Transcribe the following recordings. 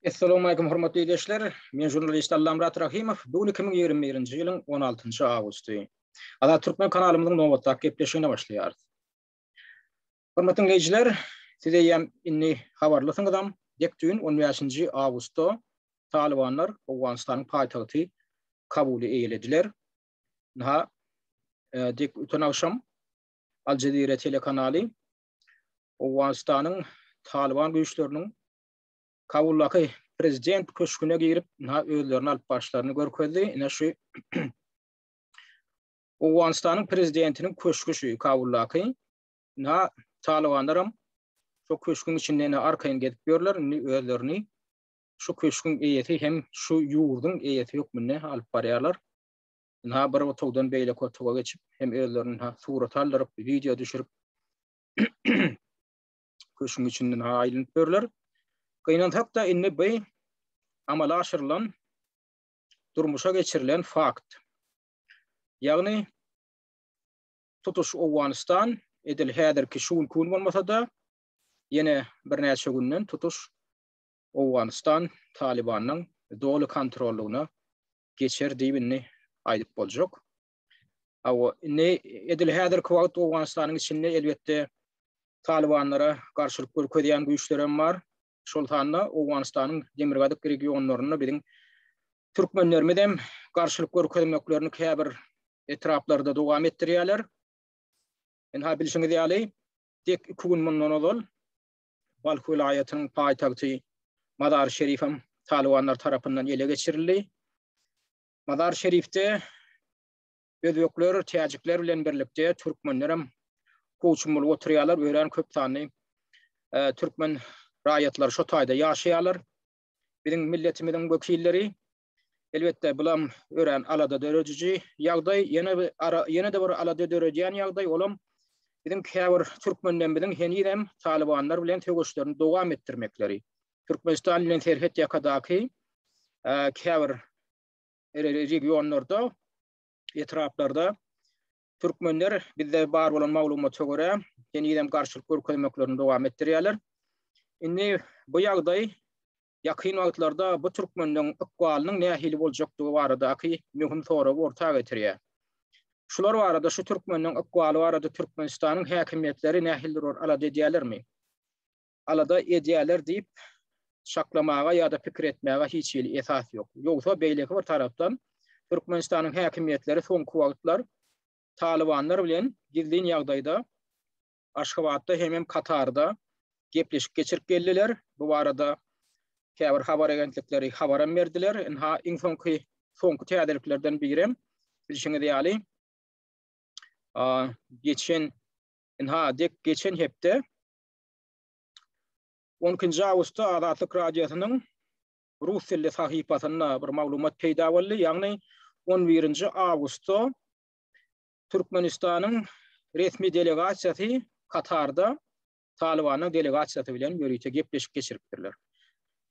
Assalamu alaykum hormatly ildeşler. Men jurnalist Allamrat Rahimow. Bu gün 2021-nji ýylyň 16-njy awgusty. Azat Türkmen kanalymyzyň nobatdaky gepleşigine başlaýarys. Hormatly ildeşler, siz eýýäm indi habarlysyňyzam, dek düýn 15-nji awgustda Talybanlar Owganystanyň paýtagty Kabuly eýelediler. Naha, e, dek öten agşam Al Jazeera telekanaly Owganystanyň Talyban güýçleriniň Kabuldaky prezident köşgüne girip, ina özlerini alyp başlaryny görkezdi. Ina şu Owganystanyň prezidentiniň köşgü şu Kabuldaky. Ina Talybanlar hem şu köşgüň içinde ina arkaýyn gezip ýörler. Indi özlerini şu köşgüň eýesi hem şu ýurduň eýesi hökmünde alyp barýarlar. ynha bir otagdan beýleki otaga geçip, hem özlerini ynha surat aldyryp, wideo düşürip, köşgüň içinde ynha aýlanyp ýörler. Gynansak-da, indi bu amala aşyrylan, durmuşa geçirilen fakt. Ýagny, tutuş Owganystan, edil häzirki şu günki gün bolmasa-da, ýene birnäçe günden tutuş Owganystan Talybanyň doly kontrollygyna geçer diýip indi aýdyp boljak. Awa, indi edil häzirki wagt Owganystanyň içinde elbetde Talybanlara garşylyk görkezýän güýçler hem bar. Şol sanda Owganystanyň demirgazyk regionlarynda biziň türkmenlerimiz hem garşylyk görkezmeklerini käbir etraplarda dowam etdirýärler. Indi ha bilşiňiz ýaly, dek iki gün mundan ozal Balh welaýatynyň paýtagty Mazar-i-Şerif hem talybanlar tarapyndan ele geçirildi. Mazar-i-Şerifde özbekler, täjikler bilen birlikde türkmenler hem howçum bolup oturýarlar, örän köp sanly türkmen raýatlary şo taýda ýaşaýarlar. Biziň milletimiziň wekilleri Elbetde, bulam örän alada dörediji ýagdaý. Ýene bir ara, ýene-de bir alada döredýän ýagdaý, olam biziň käbir türkmenlerimiziň henizem talybanlar bilen söweşlerini dowam etdirmekleri. Türkmenistan bilen serhet ýakadaky käbir regionlarda, etraplarda türkmenler bizde bar bolan maglumata görä, henizem garşylyk görkezmeklerini dowam etdirýärler. Indi bu ýagdaý Ýakyn wagtlarda bu türkmenleň ykbalynyň nähili boljakdygy baradaky möhüm soragy orta getirýär. Şular barada, şu türkmenleň ykbaly barada Türkmenistanyň häkimiýetleri nähilidir bir alada edýärlermi? Alada edýärler diýip çaklamaga ýa-da pikir etmäge hiç hili esas ýok. Ýogsa, beýleki bir tarapdan, Türkmenistanyň häkimiýetleri soňky wagtlar Talybanlar bilen gizlin ýagdaýda Aşgabatda hemem Katarda gepleşik geçirip geldiler. Bu barada käbir habar agentlikleri habaram berdiler. Ynha iň soňky soňky täzeliklerden birem bilşiňiz ýaly geçen ynha dek geçen hepde 12-nji awgustda Azatlyk radiosynyň rus dilli sahypasynda bir maglumat peýda boldy. Ýagny 11-nji awgustda Türkmenistanyň resmi delegasiýasy Katarda Talybanyň delegasiýasy bilen ýörite gepleşik geçiripdirler.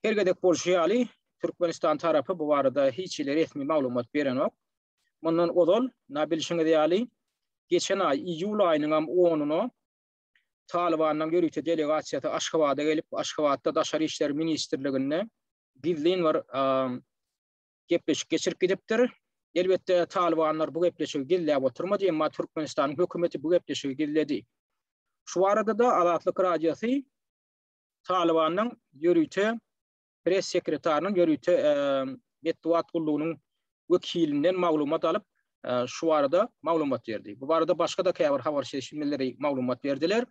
Her gezek bolşy ýaly, Türkmenistan tarapy bu barada hiç hili resmi maglumat berenok. Mundan ozal, na bilşiňiz ýaly, geçen aý iýul aýynyňam onuna Talybanyň ýörite delegasiýasy Aşgabada gelip, Aşgabatda Daşary işler ministrliginde gizlin bir gepleşik geçirip gidipdir. Elbetde, talybanlar bu gepleşigi gizläp oturmady, emma Türkmenistanyň hökümeti bu gepleşigi gizledi. Şu barada-da Azatlyk Radiosy Talybanyň ýörite press sekretarynyň ýörite metbugat gullugynyň wekilinden maglumat alyp, şu barada maglumat berdi. Bu barada başga-da käbir habarçy eşitmeleri maglumat berdiler.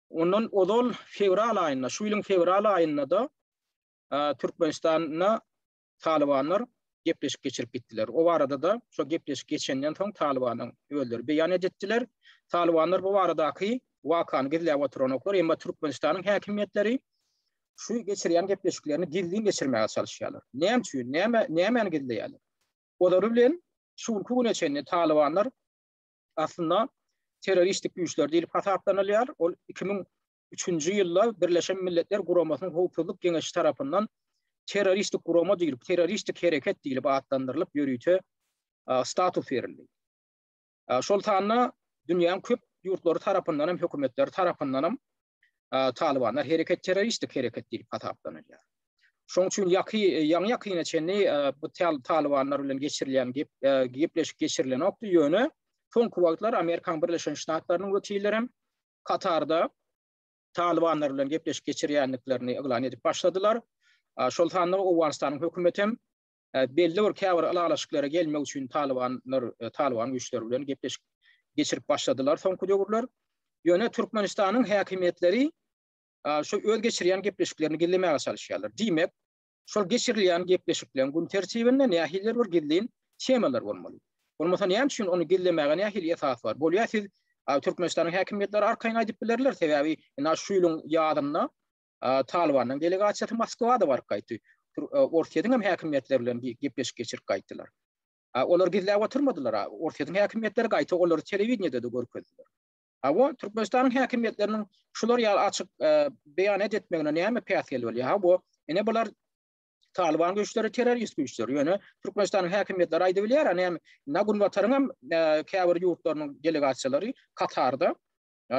Ondan ozal fewral aýynda, şu ýylyň fewral aýynda-da Türkmenistanda Talybanlar gepleşik geçirip gitdiler. O barada-da şo gepleşik geçenden soň Talybanyň özleri beýan editdiler. Talybanlar bu baradaky wakany gizläp oturanoklar, emma Türkmenistanyň häkimiýetleri şu geçirýän gepleşiklerini gizlin geçirmäge çalyşýarlar. Näme üçin? Näme nämäni gizleýärler? Olary bilen şu günki güne çenli Talybanlar aslynda terroristik güýçler diýlip hasaplanylýar. Ol 2000 üçünji ýylda Birleşen Milletler Guramasynyň Howpsuzlyk Geňeşi tarapyndan terroristik gurama diýlip, terroristik hereket diýlip atlandyrylyp ýörite status berildi. Şol sanda dünýäň köp ýurtlary tarapyndan hem, hökümetleri tarapyndan hem Talybanlar hereket terroristik hereket diýlip hasaplanylýar. Şoň üçin ýaky ýaňy ýakyna çenli bu Talybanlar bilen geçirilýän gep gepleşik geçirilenokdy, ýöne soňky wagtlar Amerikanyň Birleşen Ştatlarynyň wekilleri hem Katarda Talybanlar bilen gepleşik geçirýändiklerini yglan edip başladylar. Şol sanda Owganystanyň hökümeti hem belli bir käbir ylalaşyklara gelmek üçin Talybanlar Talyban güýçleri bilen gepleşik geçirip başladylar soňky döwürler. Ýöne Türkmenistanyň häkimiýetleri şu öz geçirýän gepleşiklerini gizlemäge çalyşýarlar. Diýmek, Şol geçirilýän gepleşikleň gün tertibinde nähilidir bir gizlin temalar bolmaly. Bolmasa näme üçin ony gizlemäge nähili esas bar? Bolýa siz Türkmenistanyň häkimiýetleri arkaýyn aýdyp bilerler, sebäbi ina şu ýylyň ýazynda Talybanyň delegasiýasy Moskwada baryp gaýtdy. Orsýetiň hem häkimiýetleri bilen gepleşik geçirip gaýtdylar. Olar gizläp oturmadylar. Orsýetiň häkimiýetleri gaýta olary telewideniýede-de görkezdiler. Hawa, Türkmenistanyň häkimiýetleriniň şular ýaly açyk beýanat etmegine näme päsgel bolýar? Hawa, ine bular Talyban güýçleri terrorist güýçler. Ýöne Türkmenistanyň häkimiýetleri aýdyp bilýär, näme? Na Günbataryň hem käbir ýurtlarynyň delegasiýalary Katarda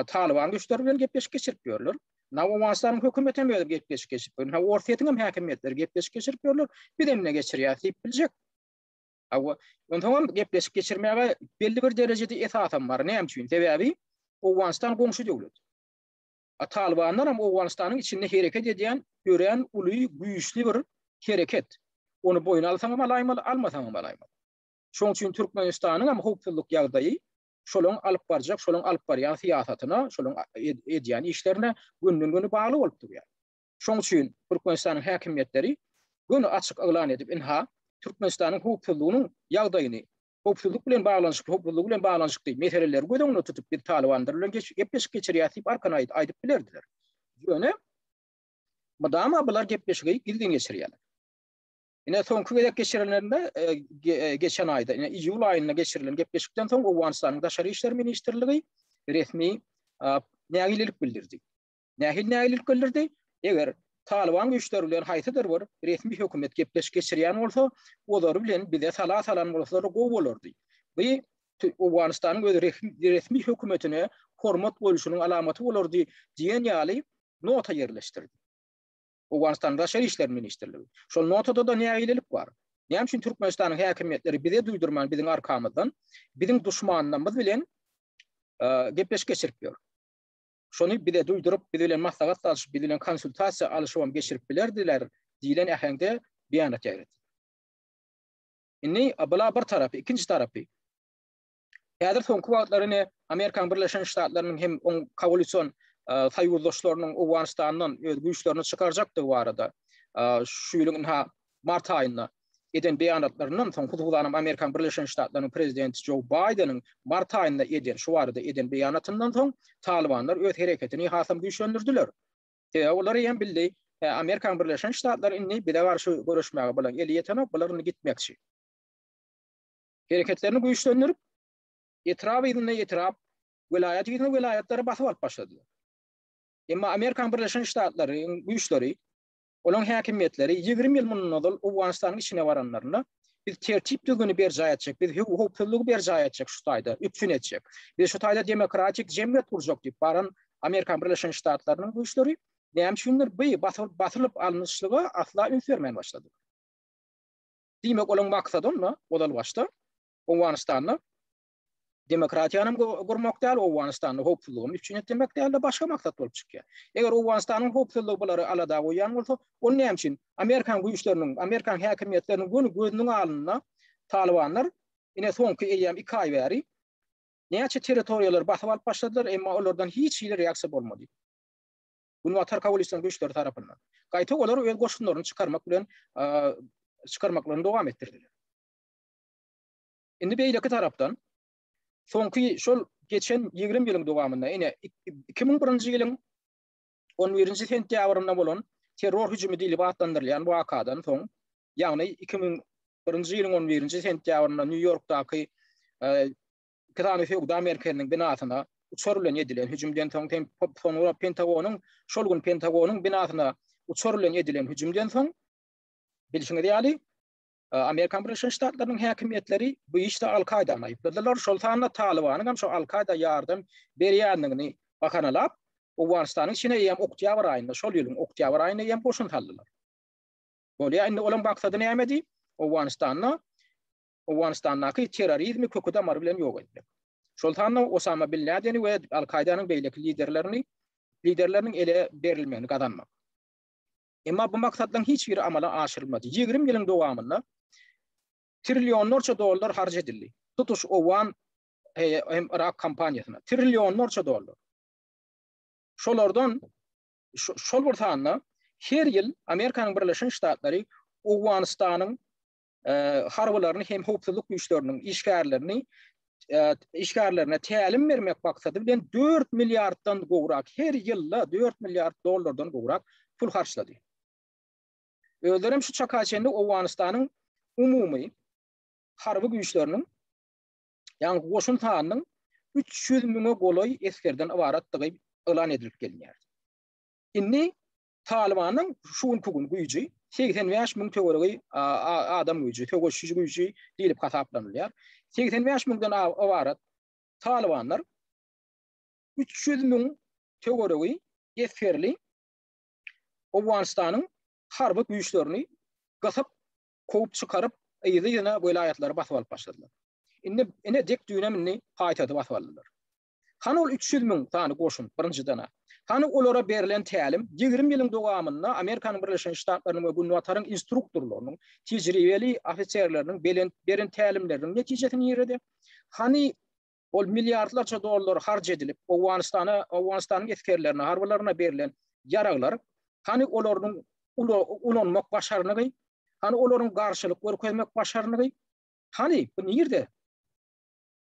Talyban güýçleri bilen gepleşik geçirip ýörler. Na Owganystanyň hökümeti hem özi gepleşik geçirip ýörler. Orsýetiň hem häkimiýetleri gepleşik geçirip ýörler. Biz hem ne geçirýäris diýip biljek. Hawa, onsoňam gepleşik geçirmäge belli bir derejede esasam bar. Näme üçin? Sebäbi Owganystan goňşy döwlet. A Talybanlar hem Owganystanyň içinde hereket edýän örän uly, güýçli bir hereket. Ony boýun alsaň hem alaýmaly, almasaň hem alaýmaly. Şonuň üçin Türkmenistanyň hem howpsuzlyk ýagdaýy şolaryň alyp barjak, şolaryň alyp barýan syýasatyna, şolaryň edýän işlerine günden-güni bagly bolup durýar. Şonuň üçin Türkmenistanyň häkimiýetleri göni açyk yglan edip, ynha, Türkmenistanyň howpsuzlygynyň ýagdaýyny, howpsuzlyk bilen baglanyşykly, howpsuzlygy bilen baglanyşykly meseleleri göz öňünde tutup, biz Talybanlar bilen gepleşik geçirýäs diýip, arkan aýt, aýdyp bilerdiler. Ýöne mydama bular gepleşigi gizlin geçirýärler. Ine, soňky gezek geçirileninde, geçen aýda, ine, iýul aýynda geçirilen gepleşikden soň Owganystanyň Daşary işler ministrligi resmi nägilelik bildirdi. Nähili nägilelik bildirdi? Eger Talyban güýçleri bilen haýsydyr bir resmi hökümet gepleşik geçirýän bolsa, olary bilen bize sala salan bolsalar gowy bolardy. Bu Owganystanyň öz resmi hökümetine hormat goýulşynyň alamaty bolardy diýen ýaly nota ýerleşdirdi. Owganystanyň Daşary işler ministrligi. Şol notada-da nägilelik bar. Näme üçin Türkmenistanyň häkimiýetleri bize duýdurman biziň arkamyzdan biziň duşmanlarymyz bilen gepleşik geçirip ýör? Şony bize duýduryp, biz bilen maslahat salşyp, biz bilen konsultasiýa alyşybam geçirip bilerdiler diýlen äheňde beýanat ýaýradylar. Indi bula bir tarapy, ikinji tarapy. Häzir soňky wagtlar ine Amerikanyň Birleşen Ştatlarynyň hem oň koalision soýuzdaşlarynyň Owganystandan öz güýçlerini çykarjakdygy barada şu ýylyň ynha mart aýynda eden beýanatlaryndan soň, hususanam Amerikan Birleşen Ştatlarynyň prezidenti Jo Baýdeniň mart aýynda eden, şu barada eden beýanatyndan soň, talybanlar öz hereketini hasam güýçlendirdiler. Sebäbi olar eýýäm bildi, Hä, Amerikan Birleşen Ştatlary indi bize garşy göreşmäge bulaň eli ýetenok, bular indi gitmekçi. Hereketlerini güýçlendirip, etrap yzyna etrap, welaýat yzyna welaýatlary basyp alyp başladylar. Emma Amerikan Birleşen Ştatlarynyň güýçleri Olaň häkimiýetleri ýigrimi ýyl mundan ozal Owganystanyň içine baranlarynda, Biz tertip-düzgüni berjaý etjek, biz howpsuzlygy berjaý etjek şu taýda, üpjün etjek. Biz şu taýda demokratik jemgyýet gurjak diýip baran Amerikan Birleşen Ştatlarynyň güýçleri näme üçindir bu basylyp alnyşlyga asla üns bermän başladylar. Diýmek, olaň maksady onda ozal başda Owganystanda demokratiýany gurmak däl, Owganystanda howpsuzlygyny üpjün etdirmek däl-de başga maksat bolup çykýar. Eger Owganystanyň howpsuzlygy bulary alada goýýan bolsa, onda näme üçin amerikan güýçleriniň, amerikan häkimiýetleriniň göni gözüniň alnynda talybanlar ine soňky eýýäm iki aý bäri näçe territoriýalary basyp alyp başladylar, emma olardan hiç hili reaksiýa bolmady. Günbatar koalisiýanyň güýçleri tarapyndan. Gaýta olar öz goşunlaryny çykarmak bilen çykarmaklaryny dowam etdirdiler. Indi beýleki tarapdan, soňky şol geçen ýigrimi ýylyň dowamynda, ine, iki müň birinji ýylyň on birinji sentýabrynda bolan terror hüjümi diýlip atlandyrylýan wakadan soň, ýagny iki müň birinji ýylyň on birinji sentýabrynda Nýu-Ýorkdaky iki sany söwda merkeziniň binasyna uçar bilen edilen hüjümden soň, soňra Pentagonyň, şol gün Pentagonyň binasyna uçar bilen edilen hüjümden soň, bilşiňiz ýaly, Amerikan Birleşen Ştatlarynyň häkimiýetleri bu işde Al-Kaýdany aýypladylar. Şol sanda Talybanyň hem şu Al-Kaýda ýardam berýändigini bahanalap, Owganystanyň içine hem oktýabr aýynda, şol ýylyň oktýabr aýynda hem goşun saldylar. Bolýa, indi olaryň maksady nämedi? Owganystanda Owganystandaky terrorizmi kökü-damary bilen ýok etmek. Şol sanda Osama bin Ladeni we Al-Kaýdanyň beýleki liderlerini liderleriniň ele berilmegini gazanmak. Emma bu maksatlaryň hiç biri amala aşyrylmady. Ýigrimi ýylyň dowamynda trillionlarça dollar harç edildi. Tutuş owgan hem Yrak kampaniýasyna trillionlarça dollar. Şolardan şol bir sanda her ýyl Amerikanyň Birleşen Ştatlary Owganystanyň harbylaryny hem howpsuzlyk güýçleriniň işgärlerini işgärlerine tälim bermek maksady bilen 4 milliarddan gowrak her ýylda 4 milliard dollardan gowrak pul harçlady. Özleri hem şu çaka çenli Owganystanyň umumy harby güýçleriniň ýa goşun sanynyň 300 müňe golaý esgerden ybaratdygy yglan edilip gelýär. Indi Talybanyň şu günki gün güýji segsen bäş müň töweregi adam güýji, söweşiji güýji diýlip hasaplanylýar. Segsen bäş müňden ybarat talybanlar üç ýüz müň töweregi esgerli Owganystanyň harby güýçlerini gysyp, kowup çykaryp, yzly-yzyna welaýatlary basyp alyp başladylar. Indi ine dek düýnem indi paýtagty basyp aldylar. Hany ol üç ýüz müň sany goşun, birinjiden-ä? Hany olara berlen tälim? Ýigrimi ýylyň dowamynda Amerikanyň Birleşen Ştatlarynyň we Günbataryň instruktorlarynyň, tejribeli ofiserleriniň belent beren tälimleriniň netijesi nirede? Hany ol milliardlarça dollar harç edilip, Owganystana, Owganystanyň esgerlerine, harbylaryna berlen ýaraglar? Hany olaryň ula ulanmak başarnygy? Hany olaryň garşylyk görkezmek başarnygy? Hany, bu nirede?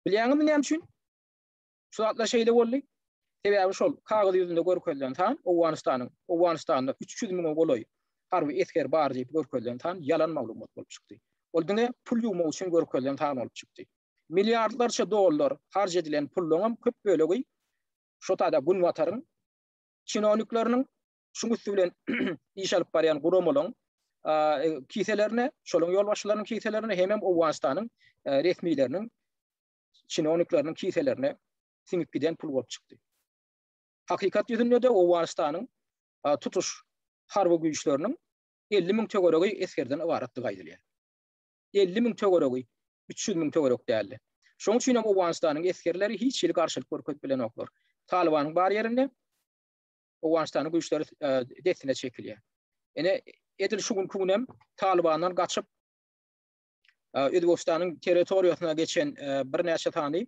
Bilýäňizmi näme üçin? Şu zatlar şeýle boldy. Sebäbi şol kagyz ýüzünde görkezilen san Owganystanyň, Owganystanda 300 müňe golaý harby esger bar diýip görkezilen san ýalan maglumat bolup çykdy. Ol diňe pul ýuwmak üçin görkezilen san bolup çykdy. Milliardlarça dollar harç edilen pullaryňam köp bölegi şo taýda Günbataryň çinownikleriniň şuň üsti bilen iş alyp barýan guramalaryň kiselerine, şolaryň ýolbaşçylarynyň kiselerine hem hem Owganystanyň resmileriniň çinownikleriniň kiselerine siňip giden pul bolup çykdy. Hakykat ýüzünde-de Owganystanyň tutuş harby güýçleriniň 50 müň töweregi esgerden ybaratdygy aýdylýar. 50 müň töweregi 300 müň töwerek däldi. Şoň üçin hem Owganystanyň esgerleri hiç hili garşylyk görkezip bilenoklar. Talybanyň bar ýerinde Owganystanyň güýçleri dessine çekilýär. Ine, edil şu günki gün hem Talybandan gaçyp Özbegistanyň territoriýasyna geçen birnäçe sany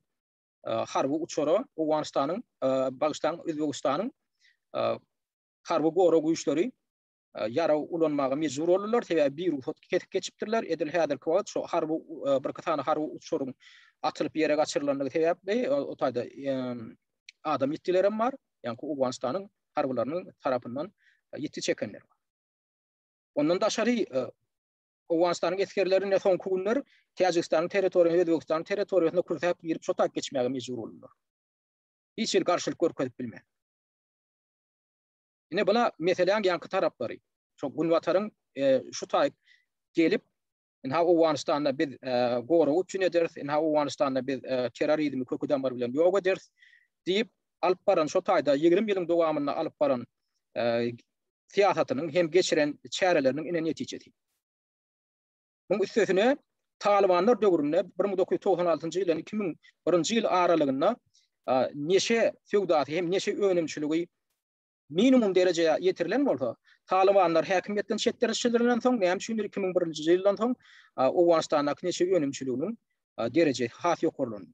harby uçara Owganystanyň, bagyşlaň, Özbegistanyň harby gorag güýçleri ýarag ulanmaga mejbur boldular, sebäbi bir rugsat kesip geçipdirler. Edil häzirki wagt şu harby birki sany harby uçaryň atylyp ýere gaçyrylandygy sebäpli o taýda adam ýitgiler hem bar. Ýagny Owganystanyň harbylarynyň tarapyndan ýitgi çekenler bar. Ondan daşary Owganystanyň esgerlerine soňky günler Täjigistanyň territoriýasyna, Özbegistanyň territoriýasyna kürsäp girip, şo taýyp geçmäge mejbur boldular. Hiç hili garşylyk görkezip bilmän. Ine bula meseläň ýaňky taraplary. Şo Günbataryň şu taýy gelip Ynha Owganystanda biz gorag üçin ederis, ynha Owganystanda biz terrorizmi köki damary bilen ýok ederis diýip alyp baran şo taýda 20 ýylyň dowamynda alyp baran syýasatynyň hem geçiren çäreleriniň ine netijesi. Muň üstesine, talybanlar döwründe bir müň dokuz ýüz togsan altynjy ýyldan iki müň birinji ýyl aralygynda neşe söwdasy hem neşe önümçiligi minimum derejä ýetirilen bolsa, talybanlar häkimiýetden çetleşdirilen soň, näme üçindir iki müň birinji ýyldan soň Owganystandaky neşe önümçiliginiň derejesi has ýokarlandy.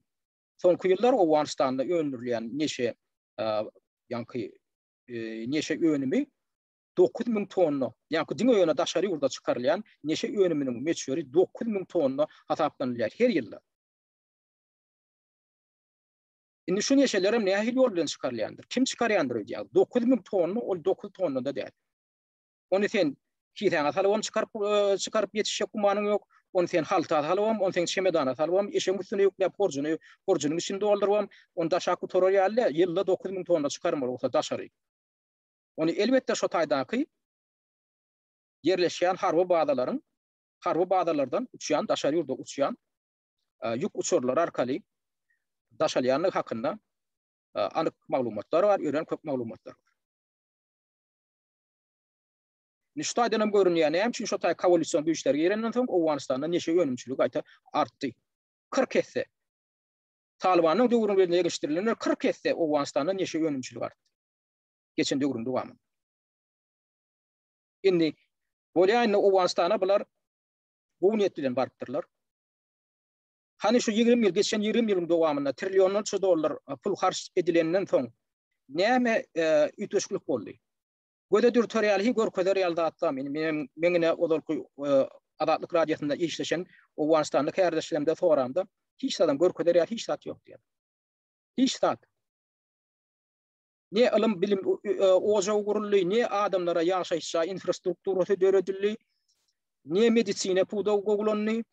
Soňky ýyllar Owganystanda öndürilýän neşe ýaňky neşe önümi dokuz müň tonna, ýa-ki diňe ýöne daşary ýurda çykarylýan neşe önüminiň möçberi dokuz müň tonna hasaplanylýar her ýylda. Indi şu neşelerem nähili ýol bilen çykarylýandyr? Kim çykarýandyr öýdýäňiz? Dokuz müň tonna ol dokuz tonna-da däl. Ony sen kisäňe salybam çykaryp çykaryp ýetişjek gümanyň ýok. Ony sen halta salybam, ony sen çemedana salybam, eşegiň üstüne ýükläp horjuny horjunyň içini doldurybam, ony daşap gutarar ýaly däl. Ýylda dokuz müň tonna çykarmaly bolsa daşary. Ony elbetde şo taýdaky ýerleşýän harby bazalaryň, harby bazalardan uçýan, daşary ýurda uçýan ýük uçarlary arkaly daşalýandygy hakynda anyk maglumatlar bar, örän köp maglumatlar bar. Indi şu taýdan hem görünýär, näme üçin şo taý koalision güýçler girenden soň Owganystanda neşe önümçiligi gaýta artdy. 40 esse. Talybanyň döwründe geçirilenler 40 esse Owganystanda neşe önümçiligi artdy. geçen döwrüň dowamynda. Indi bolýaýnda Owganystana bular gowy niýet bilen barypdyrlar. Hany şu ýigrimi ýyl, geçen ýigrimi ýylyň dowamynda trillionlarça dollar pul harç edilenden soň näme üýtgeşiklik boldy? Göze dürter ýaly, görkezer ýaly zatlar. Men men ine ozalky Azatlyk radiosynda işleşen Owganystanly kärdeşlerimde soramda, hiç zadam görkezer ýaly hiç zat ýok diýýär. Hiç zat. ne ylym-bilim ojagy guruldy, ne adamlara ýaşaýyş jaý infrastrukturasy döredildi, ne medisina pudagy gowulandy,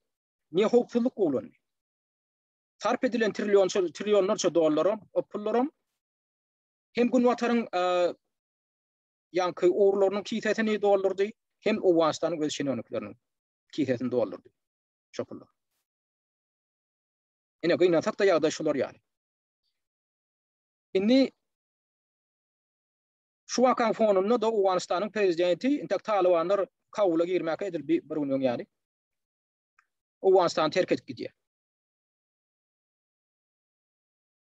ne howpsuzlyk gowulandy. Sarp edilen trillionlarça dollaram, pullaram hem Günbataryň ýaňky ogurlarynyň kisesini doldurdy, hem Owganystanyň öz şenownikleriniň kisesini doldurdy şo pullar. Ine, gynansak-da ýagdaý şular ýaly. Indi şu wakaň fonunda-da Owganystanyň prezidenti entek talybanlar Kabula girmäge edil bir gün öň ýaly Owganystany terk edip gidýär.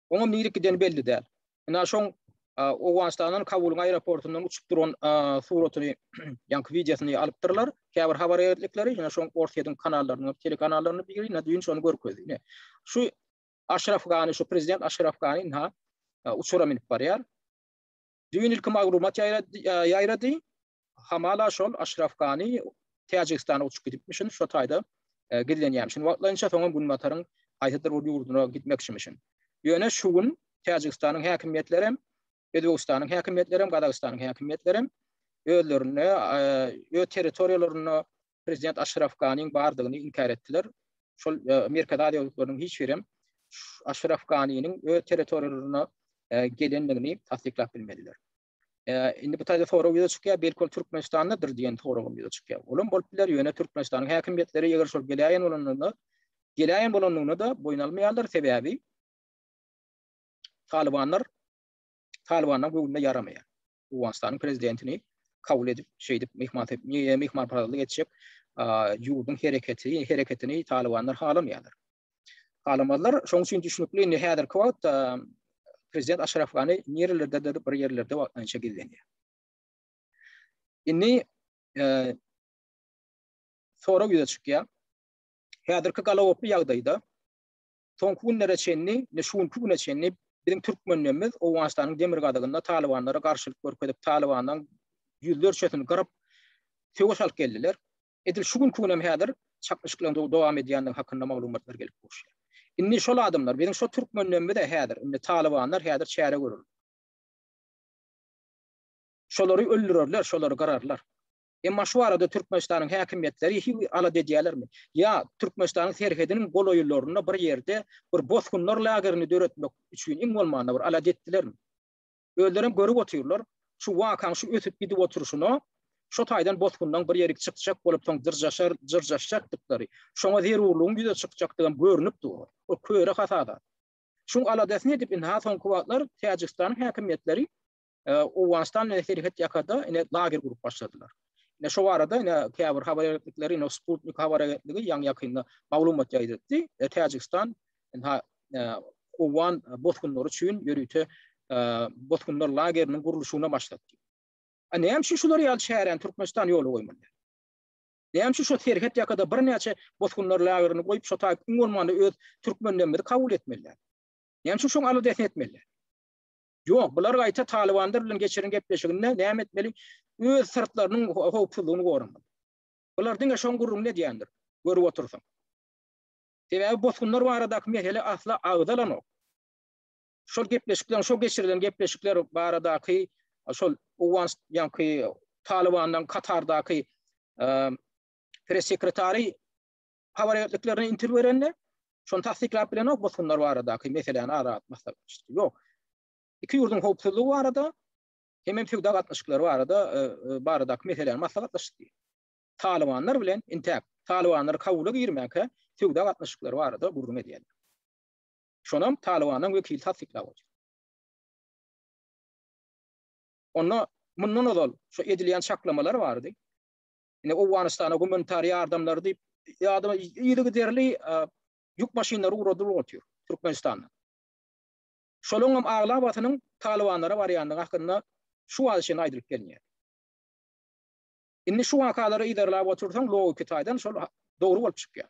Oňam nirek gideni belli däl. Ynha şoň Owganystandan Kabulyň aeroportundan uçup duran suratyny, ýaňky wideosyny alypdyrlar. Käbir habar agentlikleri, ýene şoň Orsýetiň kanallarynyň, telekanallarynyň biri düýn şony görkezdi. Ine, şu Aşraf Gani şu prezident Aşraf Gani ynha uçura minip barýar. Düýn ilki maglumat ýaýrady. Hamala şol Aşraf Gani Täjigistana uçup gidipmişin, şo taýda e, gizlenýärmişin. Wagtlaýynça soňam günbataryň haýsydyr bir ýurduna gitmekçimişin. Ýöne şu gün Täjigistanyň häkimiýetleri hem Özbegistanyň häkimiýetleri hem, Gazagystanyň häkimiýetleri hem özlerine, öz territoriýalarynda prezident Aşraf Ganiň bardygyny inkär etdiler. Şol Merkezi Aziýa ýurtlarynyň hiç biri hem Aşraf Ganiniň öz territoriýalaryna gelendigini tassyklap bilmediler. Indi bu taýda sorag ýüze çykýar, belki ol Türkmenistandadyr diýen sorag hem ýüze çykýar. Ol hem bolup biler, ýöne Türkmenistanyň häkimiýetleri eger şol geläýen bolandygyna, geläýen bolandygyna-da boýun almaýarlar, sebäbi Talybanlar Talybanlar göwnüne ýaramaýar. Owganystanyň prezidentini kabul edip, şeýdip mehman niýe mehman parazlyk etjek ýurduň hereketi, hereketini Talybanlar halamaýarlar. Halamazlar, şoň üçin düşünikli, indi häzirki wagtda prezident Aşraf Gani niýerlerde bir ýerlerde wagtlaýynça gizlenýär. Indi e, sorag ýüze çykýar. Häzirki galawoply ýagdaýda Soňky günlere çenli, indi şu günki güne çenli biziň türkmenlerimiz Owganystanyň demirgazygynda talybanlara garşylyk görkezip, talybanlaryň ýüzlerçesini gyryp, söweş alyp geldiler. Edil şu günki gün hem häzir çaknyşyklaryň dowam edýändigi hakynda maglumatlar gelip gowuşýar. Indi şol adamlar, biziň şo türkmenlerimiz-ä häzir, indi talybanlar häzir çäre görüp, şolary öldürerler, şolary gyrarlar. Emma şu barada Türkmenistanyň häkimiýetleri hiwi alada edýärlermi? Ýa Türkmenistanyň serhediniň golaýlarynda bir ýerde bir bosgunlar lagerini döretmek üçin iň bolmanda bir alada etdilermi? Özlerem görüp otyrlar, şu wakaň şu ösüp gidip oturyşyna şo taýdan bosgunlaň bir ýerik çykjak bolup soň jyrjaşar jyrjaşjakdyklary, şoňa zerurlygyň ýüze çykjakdygam görünip dur. Ol köre hasada. Şuň aladasyny edip indi-ha soňky wagtlar Täjigistanyň häkimiýetleri Owganystan bilen serhet ýakada ine lager gurup başladylar. Ine şo barada ine käbir habar agentlikleri ine Sputnik habar agentligi ýaňy ýakynda maglumat ýaýdatdy. E, Täjigistan ine owgan bosgunlary üçin ýörite bosgunlar lageriniň gurluşygyna başlady. A näme üçin şular ýaly çäräni Türkmenistan ýola goýmaly? Näme üçin şu serhet ýakada birnäçe bosgunlar lagerini goýup, şo taýyp iň bolmanda öz türkmenlerimizi kabul etmeliler? Näme üçin şoň aladasyny etmeliler? Ýok, bular gaýta talybanlar bilen geçiren gepleşiginde näme etmeli? Öz syrtlarynyň howpsuzlygyny goramaly. Bular diňe şoň gürrüňini edýändir, görüp otursaň. Sebäbi bosgunlar baradaky mesele asla agzalanok. Şol gepleşikler, şo geçirilen gepleşikler baradaky şol Owgan ýanky Talybandan Katardaky press sekretary habar agentliklerine interwýu berende, şony tassyklap bilenok bosgunlar baradaky meseläni ara atyp maslahatlaşdy. Ýok. Iki ýurduň howpsuzlygy barada hem hem söwda gatnaşyklary barada e, e, baradaky meseläni maslahatlaşdy. Talybanlar bilen intäk, talybanlar Kabula girmäke söwda gatnaşyklary barada gürrüň edýärler. Şonam Talybanyň wekili tassyklap otyr. Onda mundan ozal şu edilýän çaklamalar bardy. indi Owganystana gumanitar ýardamlary diýip, ýadyma yzygiderli ýük maşynlary ugradylyp otyr Türkmenistandan. Şolaryň hem aglabasynyň Talybanlara barýandygy hakynda şu wagta çenli aýdylyp gelinýär. Indi şu wakalary yzarlap otursaň, logiki taýdan şol dogry bolup çykýar.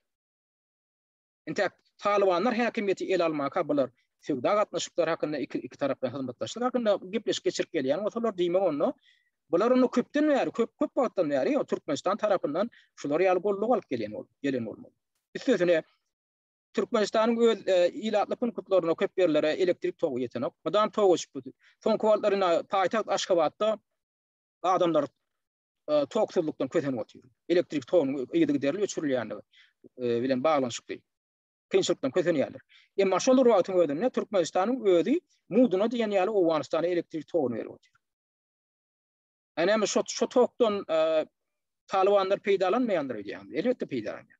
Entäk Talybanlar häkimiýeti ele almaka bular söwda gatnaşyklary hakynda iki iki tarap bilen hyzmatdaşlyk hakynda gepleşik geçirip gelýän bolsalar diýmek onda bular onda köpden bäri köp köp wagtdan bäri Türkmenistan tarapyndan şular ýaly golluk alyp gelýän bol gelen bolmaly. Üstesine Türkmenistanyň öz e, ilatly punktlaryna köp ýerlere elektrik togy ýetenok. Mydam tog geçip durdy. Soňky wagtlar ina paýtagt Aşgabatda adamlar toksuzlukdan kösenip otyr. Elektrik togynyň yzygiderli öçürilýändigi bilen baglanyşykly kynçylykdan kösenýärler. Emma şol bir wagtyň özünde Türkmenistanyň özi muduna diýen ýaly Owganystana elektrik togyny berip otyr. Änemin şo şo tokdan Talybanlar peýdalanmaýandyr öýdýän. Elbetde peýdalanýar.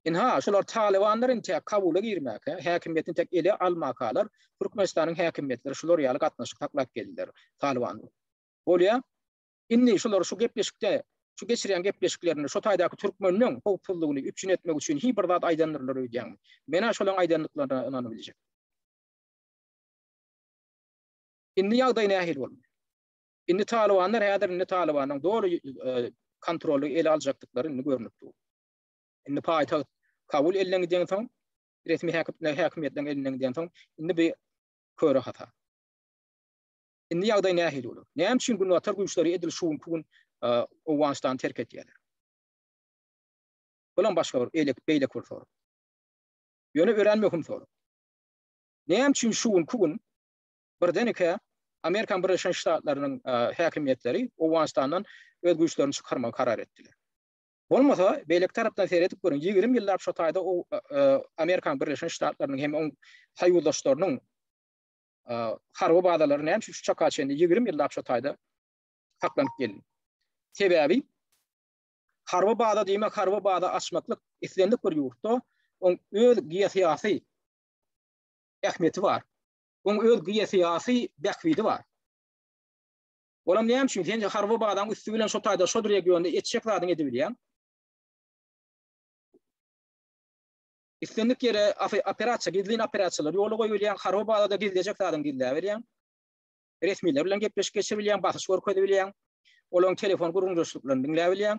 Inha, şolar Talybanlar inte Kabula girmäke, häkimiýetini tek ele almakalar, Türkmenistanyň häkimiýetleri şolar ýaly gatnaşyk saklap geldiler Talyban. bolýar. Indi şular şu gepleşikde, şu geçirýän gepleşiklerinde şo taýdaky türkmeniň howpsuzlygyny üpjün etmek üçin hi bir zat aýdandyrlar öýdýäňmi? Men-ä şolaň aýdandyklaryna ynanyp biljek. Indi ýagdaý nähili bolmaly? Indi talybanlar häzir indi talybanyň doly e, kontroly ele aljakdyklary indi görnüp dur. Indi paýtagt Kabul elinden giden soň, resmi häkimler häkimiýetlerin elinden giden soň, indi bir köre hata. Indi ýagdaý nähili bolar? Näme üçin günbatar güýçleri edil şu günki gün Owganystany terk edýärler? Bulam başga bir eýlek beýleki bir sorag. Ýöne örän möhüm sorag. Näme üçin şu günki gün birdenike Amerikan Birleşen Ştatlarynyň häkimiýetleri Owganystandan öz güýçlerini çykarmagy karar etdiler? Bolmasa, beýleki tarapdan seredip görüň, 20 ýyllap şu taýda Amerikan Birleşen Ştatlarynyň hem oň soýuzdaşlarynyň harby bazalary näme üçin şu çaka çenli ýigrimi ýyllap şu taýda saklanyp geldi? Sebäbi harby baza diýmek, harby baza açmaklyk islendik bir ýurtda oň öz geosyýasy ähmiýeti bar. Oň öz geosyýasy bähbidi bar. Olam näme üçin sen harby bazaň üsti bilen şu taýda şu regionda etjek zadyň edibilýär? Islendik ýere operasiýa, gizlin operasiýalar ýola goýulýar, harabada-da gizlejek zadyňy gizläberýäň. Resmiler bilen gepleşik geçirebilýäň, basyş görkezibilýäň. Olaryň telefon gürrüňdeşliklerini diňläbilýäň.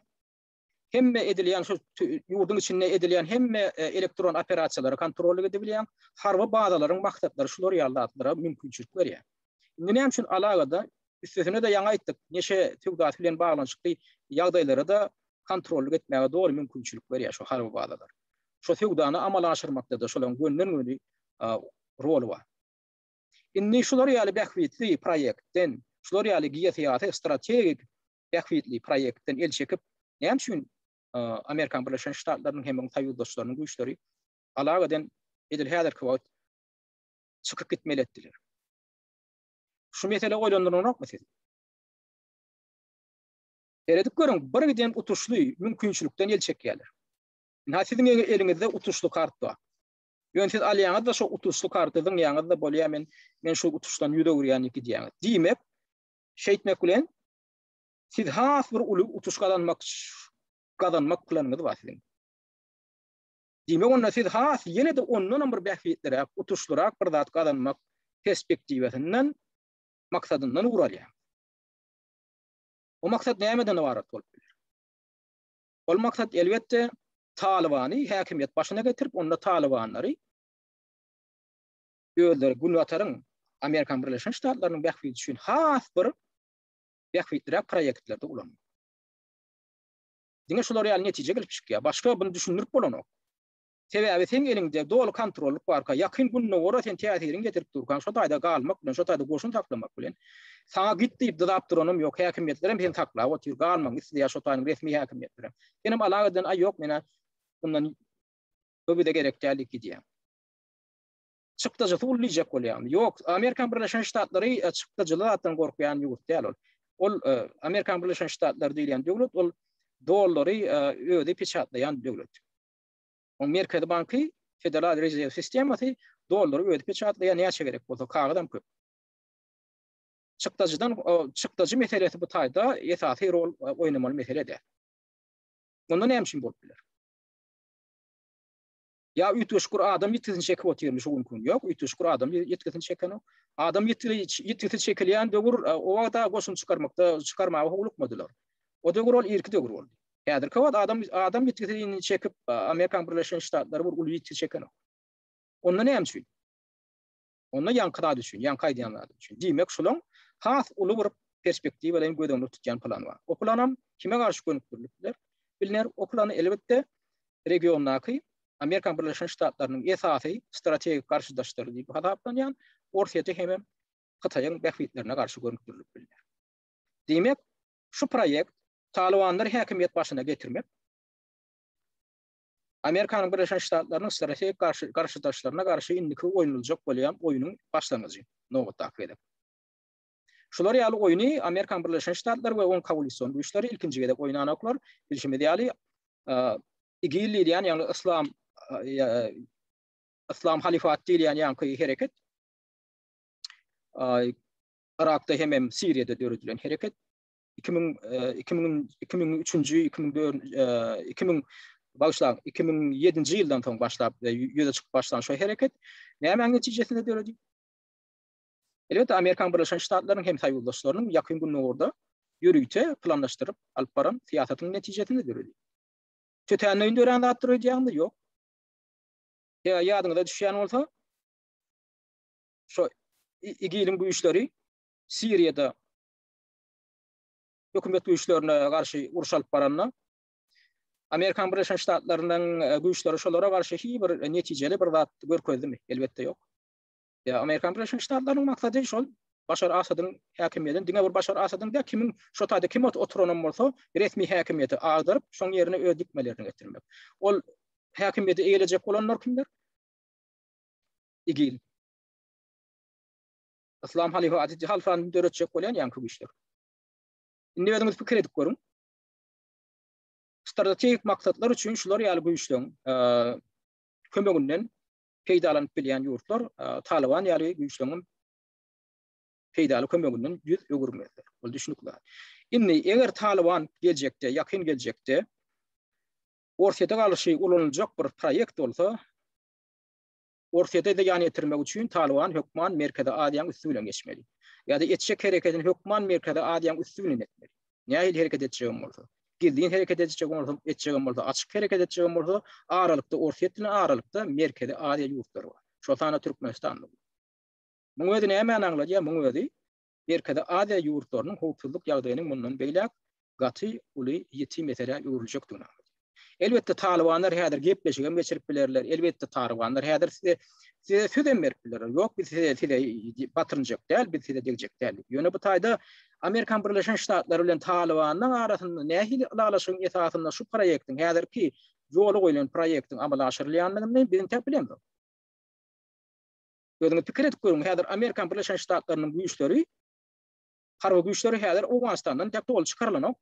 Hemme edilýän şu ýurduň içinde edilýän hemme elektron operasiýalary kontrollyk edebilýäň. Harby bazalaryň maksatlary şular ýaly zatlara mümkinçilik berýär. Indi näme üçin alagada üstesine-de ýaňy aýtdyk, neşe söwdasy bilen baglanyşykly ýagdaýlara-da kontrollyk etmäge doly mümkinçilik berýär şu harby bazalar. Şo söwdany amala aşyrmakda-da şolaryň gönden-göni roly bar. Indi şular ýaly bähbitli proýektden, şular ýaly geosyýasy strategik bähbitli proýektden el çekip, näme üçin Amerikan Birleşen Ştatlarynyň hem onuň soýuzdaşlarynyň güýçleri alagadan edil häzirki wagt çykyp gitmeli etdiler? Şu mesele oýlandyranokmy sizi? Seredip görüň, birgiden utuşly mümkinçilikden el çekýärler. Ynha siziň eňi eliňizde utuşly kart bar. Ýöne siz alýaňyz-da şo utuşly karty zyňýaňyz-da bolýar men men şu utuşdan ýüz öwürýän ýeki diýýäňiz. Diýmek, şeýtmek bilen siz has bir uly utuş gazanmak gazanmak planyňyz bar siziň. Diýmek, onda siz has ýene-de ondan hem bir bähbitliräk, utuşlyrak bir zat gazanmak perspektiwasyndan maksadyndan ugur alýaňyz. O maksat nämeden ybarat bolup biler? Ol maksat elbetde Talybany häkimiýet başyna getirip, onda Talybanlary özleri Günbataryň, Amerikanyň Birleşen Ştatlarynyň bähbidi üçin has bir bähbitliräk proýektlerde ulanmak. Diňe şular ýaly netije gelip çykýar. Başga bunu düşündirip bolanok. Sebäbi seň eliňde doly kontrollyk barka, Ýakyn Gündogara sen täsiriňi ýetirip durkaň, şo taýda galmak bilen, şo taýda goşun saklamak bilen, saňa git diýip dyzap duranam ýok, häkimiýetlerem seni saklap otyr, galmagyňy isleýär şo taýyň resmi häkimiýetlerem. Senem alaga eden, aý ýok men-ä mundan bu bize gerek däl diýip gidýäň. Çykdajysy uly diýjek bolýaňmy? Ýok, Amerikan Birleşen Ştatlary çykdajyly zatdan gorkýan ýurt däl ol. Ol Amerikan Birleşen Ştatlary diýilýän döwlet ol dollary özi peçatlaýan döwlet. Oň merkezi banky Federal Rezerw sistemasy dollary özi peçatlaýar näçe gerek bolsa kagyzam köp. Çykdajydan çykdajy meselesi bu taýda esasy rol oýnamaly mesele däl. Onda näme üçin bolup biler? Ya üýtgeşikdir adam ýitgisini çekip otyrmy şu günki gün? Ýok, üýtgeşikdir adam ýitgisini çekenok. Adam ýitgisi çekilýän döwür o wagtda goşun çykarmakda çykarmaga howlukmadylar. O döwür ol irki döwür boldy. Häzirki wagt adam adam ýitgisini çekip, Amerikanyň Birleşen Ştatlary bir uly ýitgi çekenok. Onda näme üçin? Onda ýaňky zat üçin, ýaňky aýdýan zat üçin. Diýmek, şolaň has uly bir perspektiwa bilen göz öňünde tutýan plan bar. O planam kime garşy gönükdirilip biler? Bilner, o plany elbetde regiondaky Amerikanyň Birleşen Ştatlarynyň esasy strategik garşydaşlary diýip hasaplanýan Orsýete hem Hytaýyň bähbitlerine garşy gönükdirilip bilner. Diýmek, Şu proýekt Talybanlary häkimiýet başyna getirmek, Amerikanyň Birleşen Ştatlarynyň strategik garşy garşydaşlaryna garşy indiki oýnuljak bolýan oýnuň başlangyjy, nobatdaky gezek. Şular ýaly oýny Amerikanyň Birleşen Ştatlary we oň kowalision güýçleri ilkinji gezek oýnanoklar. Bilşimiz ýaly, IGIL diýilýän, ýagny Yslam Yslam Halifaty diýilýän ýaňky hereket Yrakda hemem Siriýada döredilen hereket 2000 2003-nji 2004 2000 bagşlaň 2007-nji ýyldan soň başlap e, ýüze çykyp başlan şu hereket nämäň netijesinde döredi? Elbetde Amerikan Birleşen Ştatlarynyň hem saýyudaşlarynyň ýakyn günlerde ýörite planlaşdyryp alyp baran syýasatynyň netijesinde döredi. Tötänleýin dörän zatdyr öýdýäňmi? Ýok. Ýa ýadyňyza düşýän bolsa, şu İgiliň güýçleri Siriýada hökümet güýçlerine garşy uruş alyp baranda Amerikan Birleşen Ştatlarynyň e, güýçleri şolara garşy hiç bir netijeli bir zat görkezdimi? Elbetde ýok. Ýa e, Amerikan Birleşen Ştatlarynyň maksady şol Başar Asadyň häkimiýetini diňe bir Başar Asadyň da kimin şu taýda kim oturanam bolsa resmi häkimiýeti agdaryp, şoň ýerine öz dikmelerini getirmek. Ol häkimiýeti eýelejek bolanlar kimler? igil. Islam halyfa Aziz halfany döretjek bolýan ýaňky güýçler. Indi özüňiz pikir edip görüň. Strategik maksatlar üçin şular ýaly güýçleriň kömeginden peýdalanyp bilýän ýurtlar Taliban ýaly güýçleriň peýdaly kömeginden ýüz öwürmezler. Bu düşünikli. Indi eger Taliban geljekde, ýakyn geljekde Orsýete galyşy ulanyljak bir proýekt bolsa, Orsýete zyýan ýetirmek üçin Talyban hökman Merkezi Aziýanyň üsti bilen geçmeli. Ýa-da etjek hereketini hökman Merkezi Aziýanyň üsti bilen etmeli. Nähili hereket etjegem bolsa. Gizlin hereket edijegem bolsa, etjegem bolsa, açyk hereket etjegem bolsa, aralykda Orsýet bilen aralykda Merkezi Aziýa ýurtlary bar. Şol sanda Türkmenistan-da. Muň özi nämäni aňladýar? Muň özi Merkezi Aziýa ýurtlarynyň howpsuzlyk ýagdaýynyň mundan beýläk gaty uly ýiti meselä öwrüljekdigini aňladýar. Elbetde, talybanlar häzir gepleşigem geçirip bilerler, elbetde, talybanlar häzir size size sözem berip bilerler, ýok biz size size batyrynjak däl, biz size degjek däl diýip. Ýöne bu taýda Amerikan Birleşen Ştatlary bilen Talybanyň arasynda nähili ylalaşygyň esasynda şu proýektiň, häzirki ýola goýlan proýektiň amala aşyrylýandygyny biz entäk bilemzok. Özüňiz pikir edip görüň, häzir Amerikan Birleşen Ştatlarynyň güýçleri, harby güýçleri häzir Owganystandan dek doly çykarylanok.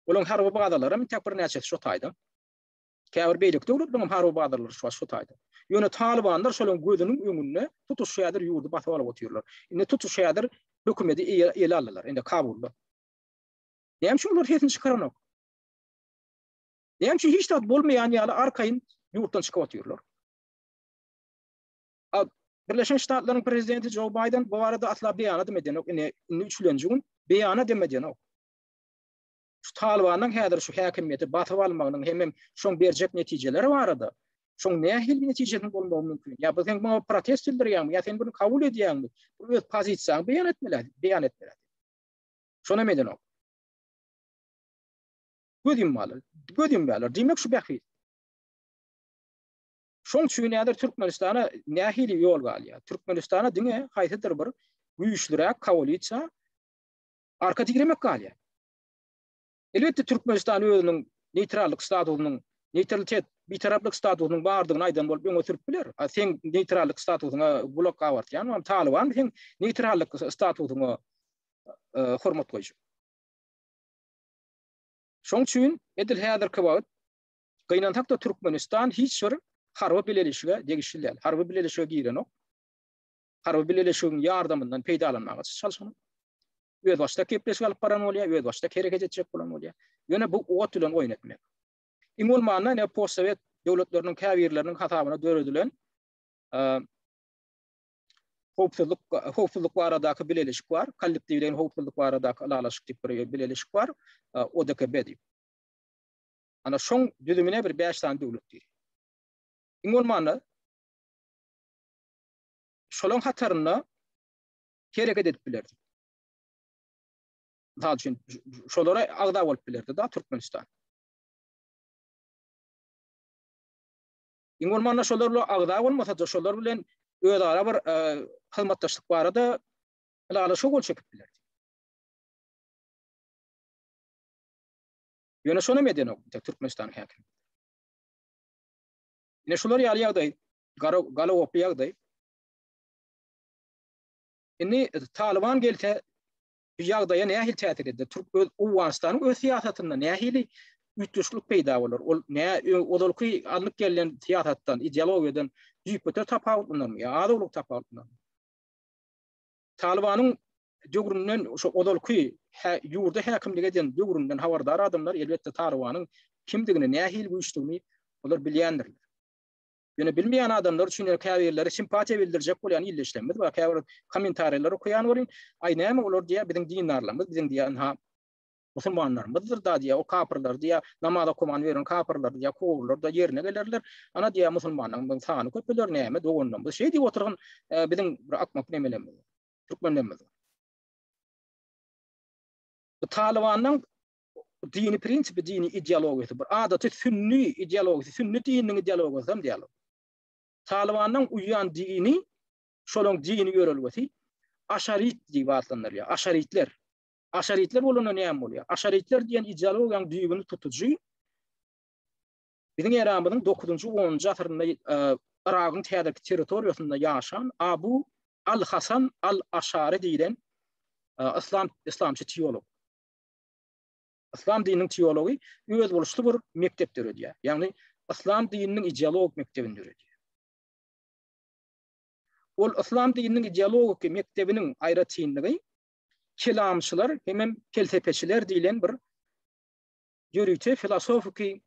Olaryň harby bazalaram tek birnäçesi şo taýda. Käbir beýleki döwletleriň hem harby bazalary şu şu taýda. Ýöne talybanlar şolaryň gözüniň öňünde tutuş şu häzir ýurdy basyp alyp otyrlar. Indi tutuş häzir hökümeti ele aldylar, indi Kabulda. Näme üçin olar sesini çykaranok? Näme üçin hiç zat bolmaýan ýaly arkaýyn ýurtdan çykyp otyrlar? Birleşen Ştatlaryň prezidenti Joe Biden bu barada asla beýana dem edenok. Ine, indi üçlenji gün beýana dem edenok. Şu Talibanyň häzir şu häkimiýeti basyp almagynyň hem hem şoň berjek netijeleri barada, şoň nähili netijesiniň bolmagy mümkin? Ýa biz hem muňa protest bildirýäňmi? Ýa sen bunu kabul edýäňmi? Bu öz pozisiýaňy beýan etmeli, beýan etmeli. Şony hem edenok. Göz ýummaly, göz ýumýarlar. Diýmek şu bähbit. Şoň üçin häzir Türkmenistana nähili ýol galýar? Türkmenistana diňe haýsydyr bir güýçliräk koalisiýa arka diremek galýar. Elbetde Türkmenistan özüniň neýtrallyk statusynyň, neýtralitet, bitaraplyk statusynyň bardygyny aýdan bolup öňe sürüp biler. A sen neýtrallyk statusyňa gulak gabartýan, ol Talyban sen neýtrallyk statusyňa e, hormat goýjak. Şoň üçin edil häzirki wagt Gynansak-da Türkmenistan hiç bir harby bileleşige degişli däl. Harby bileleşige girenok. Harby bileleşigiň ýardamyndan peýdalanmaga çalşanok. Özbaşdak gepleşik alyp baran bolýar, özbaşdak hereket etjek bolan bolýar. Ýöne bu ot bilen oýun etmek. Iň bolmanda ine postsowet döwletleriniň käbirleriniň hasabyna döredilen howpsuzlyk howpsuzlyk baradaky bileleşik bar. Kollektiwleýin howpsuzlyk baradaky ylalaşyk diýip bir bileleşik bar. ODKB diýip. Ana şoň düzümine bir bäş sany döwlet diýilýär. Iň bolmanda şolaň hatarynda hereket edip bilerdi. Mysal üçin, şolara agza bolup bilerdi da Türkmenistan. Iň bolmanda şolar bilen agza bolmasa-da, şolar bilen özara bir e, hyzmatdaşlyk barada ylalaşyk gol çekip bilerdi. Ýöne şonam edenok indi Türkmenistanyň häkimi. Ine şular ýaly ýagdaý, gara galagoply ýagdaý. Indi Talyban gelse bu ýagdaýa nähili täsir eder? Türk öz Owganystanyň öz syýasatynda nähili üýtgeşiklik peýda bolar? Ol nä ozalky alnyp gelýän syýasatdan, ideologiýadan düýpgöter tapawutlanymy ýa az-owlak tapawutlanymy? Talybanyň döwründen şo ozalky ýurda häkimlik eden döwründen habardar adamlar elbetde Talybanyň kimdigini nähili güýçdigini olar bilýändirler. Ýöne bilmeýän adamlar üçin ýöne käbirleri simpatiýa bildirjek bolýan ildeşlerimiz bar käbir kommentariýalary okaýan welin aý näme olar diýýär biziň dindarlarymyz biziň diýýär ynha musulmanlarymyzdyr da diýýär, o kapyrlar diýýär, namaz okaman ýören kapyrlar diýýär, kowurlar-da ýerine gelerler. Ana diýýär, musulmanlaryň sany köpeler, näme doganlaryň. Biz şeý diýip otyrgyn, biziň bir akmak nemelerimiz, türkmenlerimiz. Bu Talybanyň dini prinsipi, dini ideologiýasy, bir adaty sünni ideologiýasy, sünni dininiň ideologiýasy hem diýýär. Talybanyň uýan dini, şolaryň dini ýörelgesi aşarit diýip atlandyrylýar, aşaritler. Aşaritler bolanda näme bolýar? Aşaritler diýen ideologiýanyň düýbüni tutujy biziň eramyzyň 9-njy, 10-njy asyrynda e, Yragyň täzeki territoriýasynda ýaşan Abu al-Hasan al-Aşary diýlen e, islam islamçy teolog. Islam dininiň teology öz boluşly bir mekdep döredýär. Ýagny islam dininiň ideologik mekdebini döredýär. Ol islam dininiň ideologik mekdebiniň aýratynlygy kelamçylar hemem pelsepeçiler diýlen bir ýörite filosofiki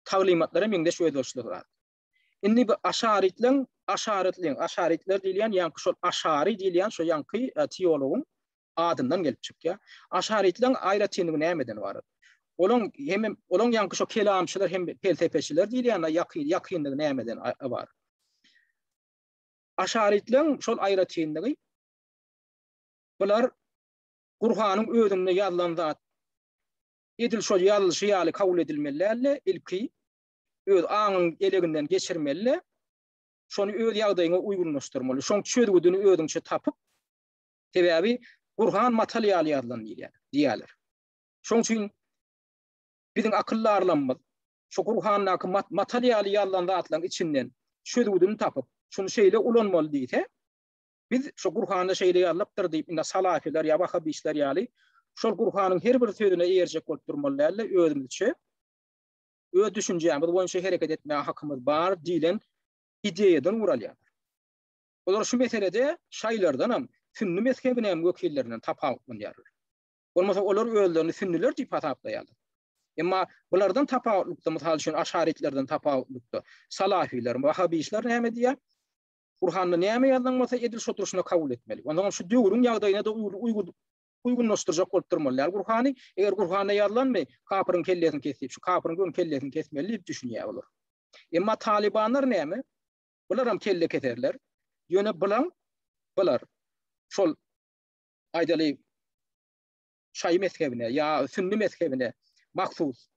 taglymatlara meňzeş özbaşylyk bar. Indi bu aşaritleň, aşaritleň, aşaritler diýilýän ýa şol aşari diýilýän şo ýanky e, teologyň adyndan gelip çykýar. Aşaritleň aýratynlygy nämeden ibarat? Olaň hem olaň ýanky şo kelamçylar hem pelsepeçiler diýilýän ýakyn ýakynlygy nämeden ibarat? Aşarytlaryň şol aýratynlygy, bular Gurhanyň özünde ýazylan zat edil şol ýazylyşy ýaly kabul edilmeli däldi, ilki öz aňyň eleginden geçirmeli, şony öz ýagdaýyňa uýgunlaşdyrmaly, şoň çözgüdini özüňçe tapyp, sebäbi Gurhan matal ýaly ýazylan diýýärler. Şoň üçin biziň akyldarlarymyz şu Gurhandaky matal ýaly ýazylan zatlaryň içinden çözgüdini tapyp, şuny şeýle ulanmaly diýse, biz şu Gurhanda şeýle ýazylypdyr diýip, indi salafylar ýa wahabistler ýaly şol Gurhanyň her bir sözüne eýerjek bolup durmaly däl-de, özümizçe, öz düşünjämiz boýunça hereket etmäge hakymyz bar diýlen ideýadan ugur alýarlar. Olar şu meselede şaýylardanam, sünni mezhebiniň wekillerinden tapawutlanýarlar. Bolmasa olar özlerini sünniler diýip hasaplaýarlar. Emma bulardan tapawutlykda, mysal üçin, aşaritlerden tapawutlykda, salafiler, wahabişler näme diýýär? Gurhanda näme ýazylan bolsa, edil şo durşuna kabul etmeli. Onda hem şu döwrüň ýagdaýyna da uýgun uýgunlaşdyrjak bolup durmaly. Ýa Gurhany, eger Gurhanda ýazylanmy, kapyryň kellesini kes diýip, şu kapyryň hem kellesini kesmeli diýip düşünýär olar. Emma talybanlar näme? Bular hem kelle keserler. Ýöne bulan bular şol aýdaly, şaýy mezhebine ýa sünni mezhebine mahsus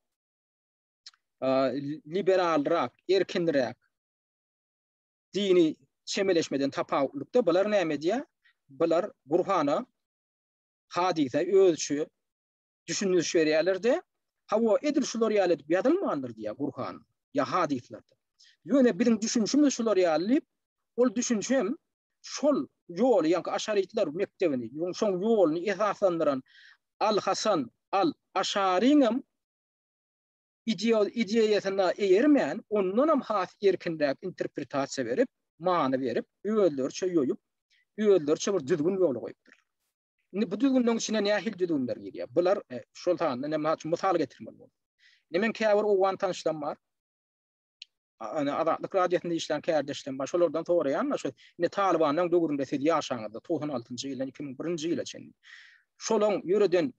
liberalrak, erkinräk dini çemeleşmeden tapawutlykda bular näme diýýär? Bular Gurhana, hadysa özçe düşündiriş berýärler-de, hawa, edil şular ýaly edip ýazylmandyr diýýär Gurhan, ýa hadyslarda. Ýöne biziň düşünişimiz şular ýaly diýip, ol düşüniş hem şol ýoly, ýaňky aşarytlar mekdebini, şoň ýoluny esaslandyran Al-Hasan al-Aşaryň hem ideýasyna eýermän, ondan hem has erkinräk interpretasiýa berip, many berip, özleriçe ýoýup, özleriçe bir düzgün ýola goýupdyr. Indi bu düzgünleň içine nähili düzgünler girýär? Bular e, şol sanda näme üçin mysal getirmeli boldum. Indi men käbir owgan tanşlarym bar. Ana Azatlyk radiosynda işlän kärdeşlerim bar. Şolardan soraýan, şu indi Talibanyň döwründe siz ýaşaňyzda 96-njy ýyldan 2001-nji ýyla çenli. Şolaň ýöreden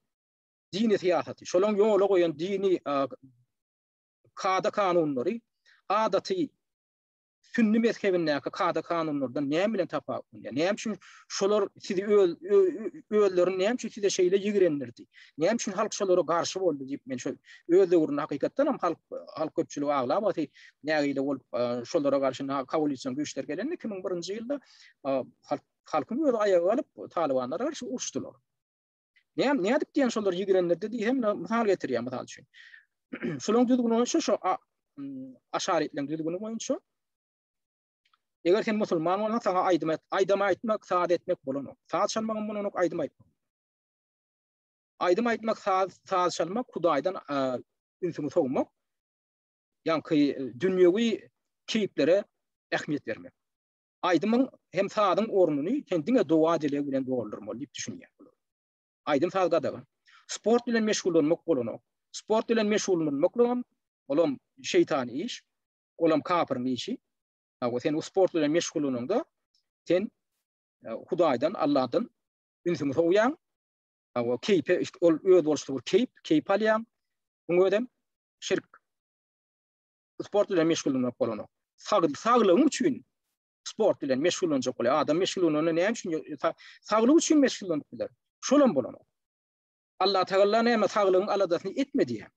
dini syýasaty, şolaň ýola goýan dini kada kanunlary adaty sünni mezhebindäki kada-kanunlardan näme bilen tapawutlanýar? Näme üçin şolar sizi öz özlerini näme üçin size şeýle ýigrendirdi? Näme üçin halk şolara garşy boldy diýip men şol öz döwründe hakykatdan hem halk halk köpçüligi aglap aty nägile bolup şolara garşy na koalision güýçler gelende 2001-nji ýylda halk halkyň öz aýaga galyp talybanlara garşy uruşdylar. Näme nädip diýen şolar ýigrenlerde diýen mysal getirýär mysal üçin. Şolaryň düzgüni boýunça şu aşarytlaryň düzgüni boýunça Eger sen musulman bolsa sana aýdym et, aýdym aýtmak, saz etmek bolan. Saz çalmak bolan, aýdym aýtmak. Aýdym aýtmak, saz, saz çalmak, Hudaýdan ünsüňi sowmak. Ýa-da dünýewi keýplere ähmiýet bermek. Aýdymyň hem sazyň ornuny sen diňe doga-dileg bilen doldurmaly diýip düşünýän olar. Aýdym-saz gadagan. Sport bilen meşgullanmak bolanok. Sport bilen meşgullanmaklygam, olam şeýtan iş, olam kapyryň işi. Hawa, sen o sport bilen meşgullanyňda, sen Hudaýdan, Allahdan ünsüňi sowýaň. Hawa, keýpe, ol özboluşly bir keýp, keýp alýaň. Muň özem şirk. sport bilen meşgullanmak bolanok. Sag, saglygyň üçin sport bilen meşgullanjak bolýar. Adam meşgullananda näme üçin saglyk üçin meşgullanyp biler? Şol hem bolanok. Allah Teala näme saglygyň aladasyny etme diýýär.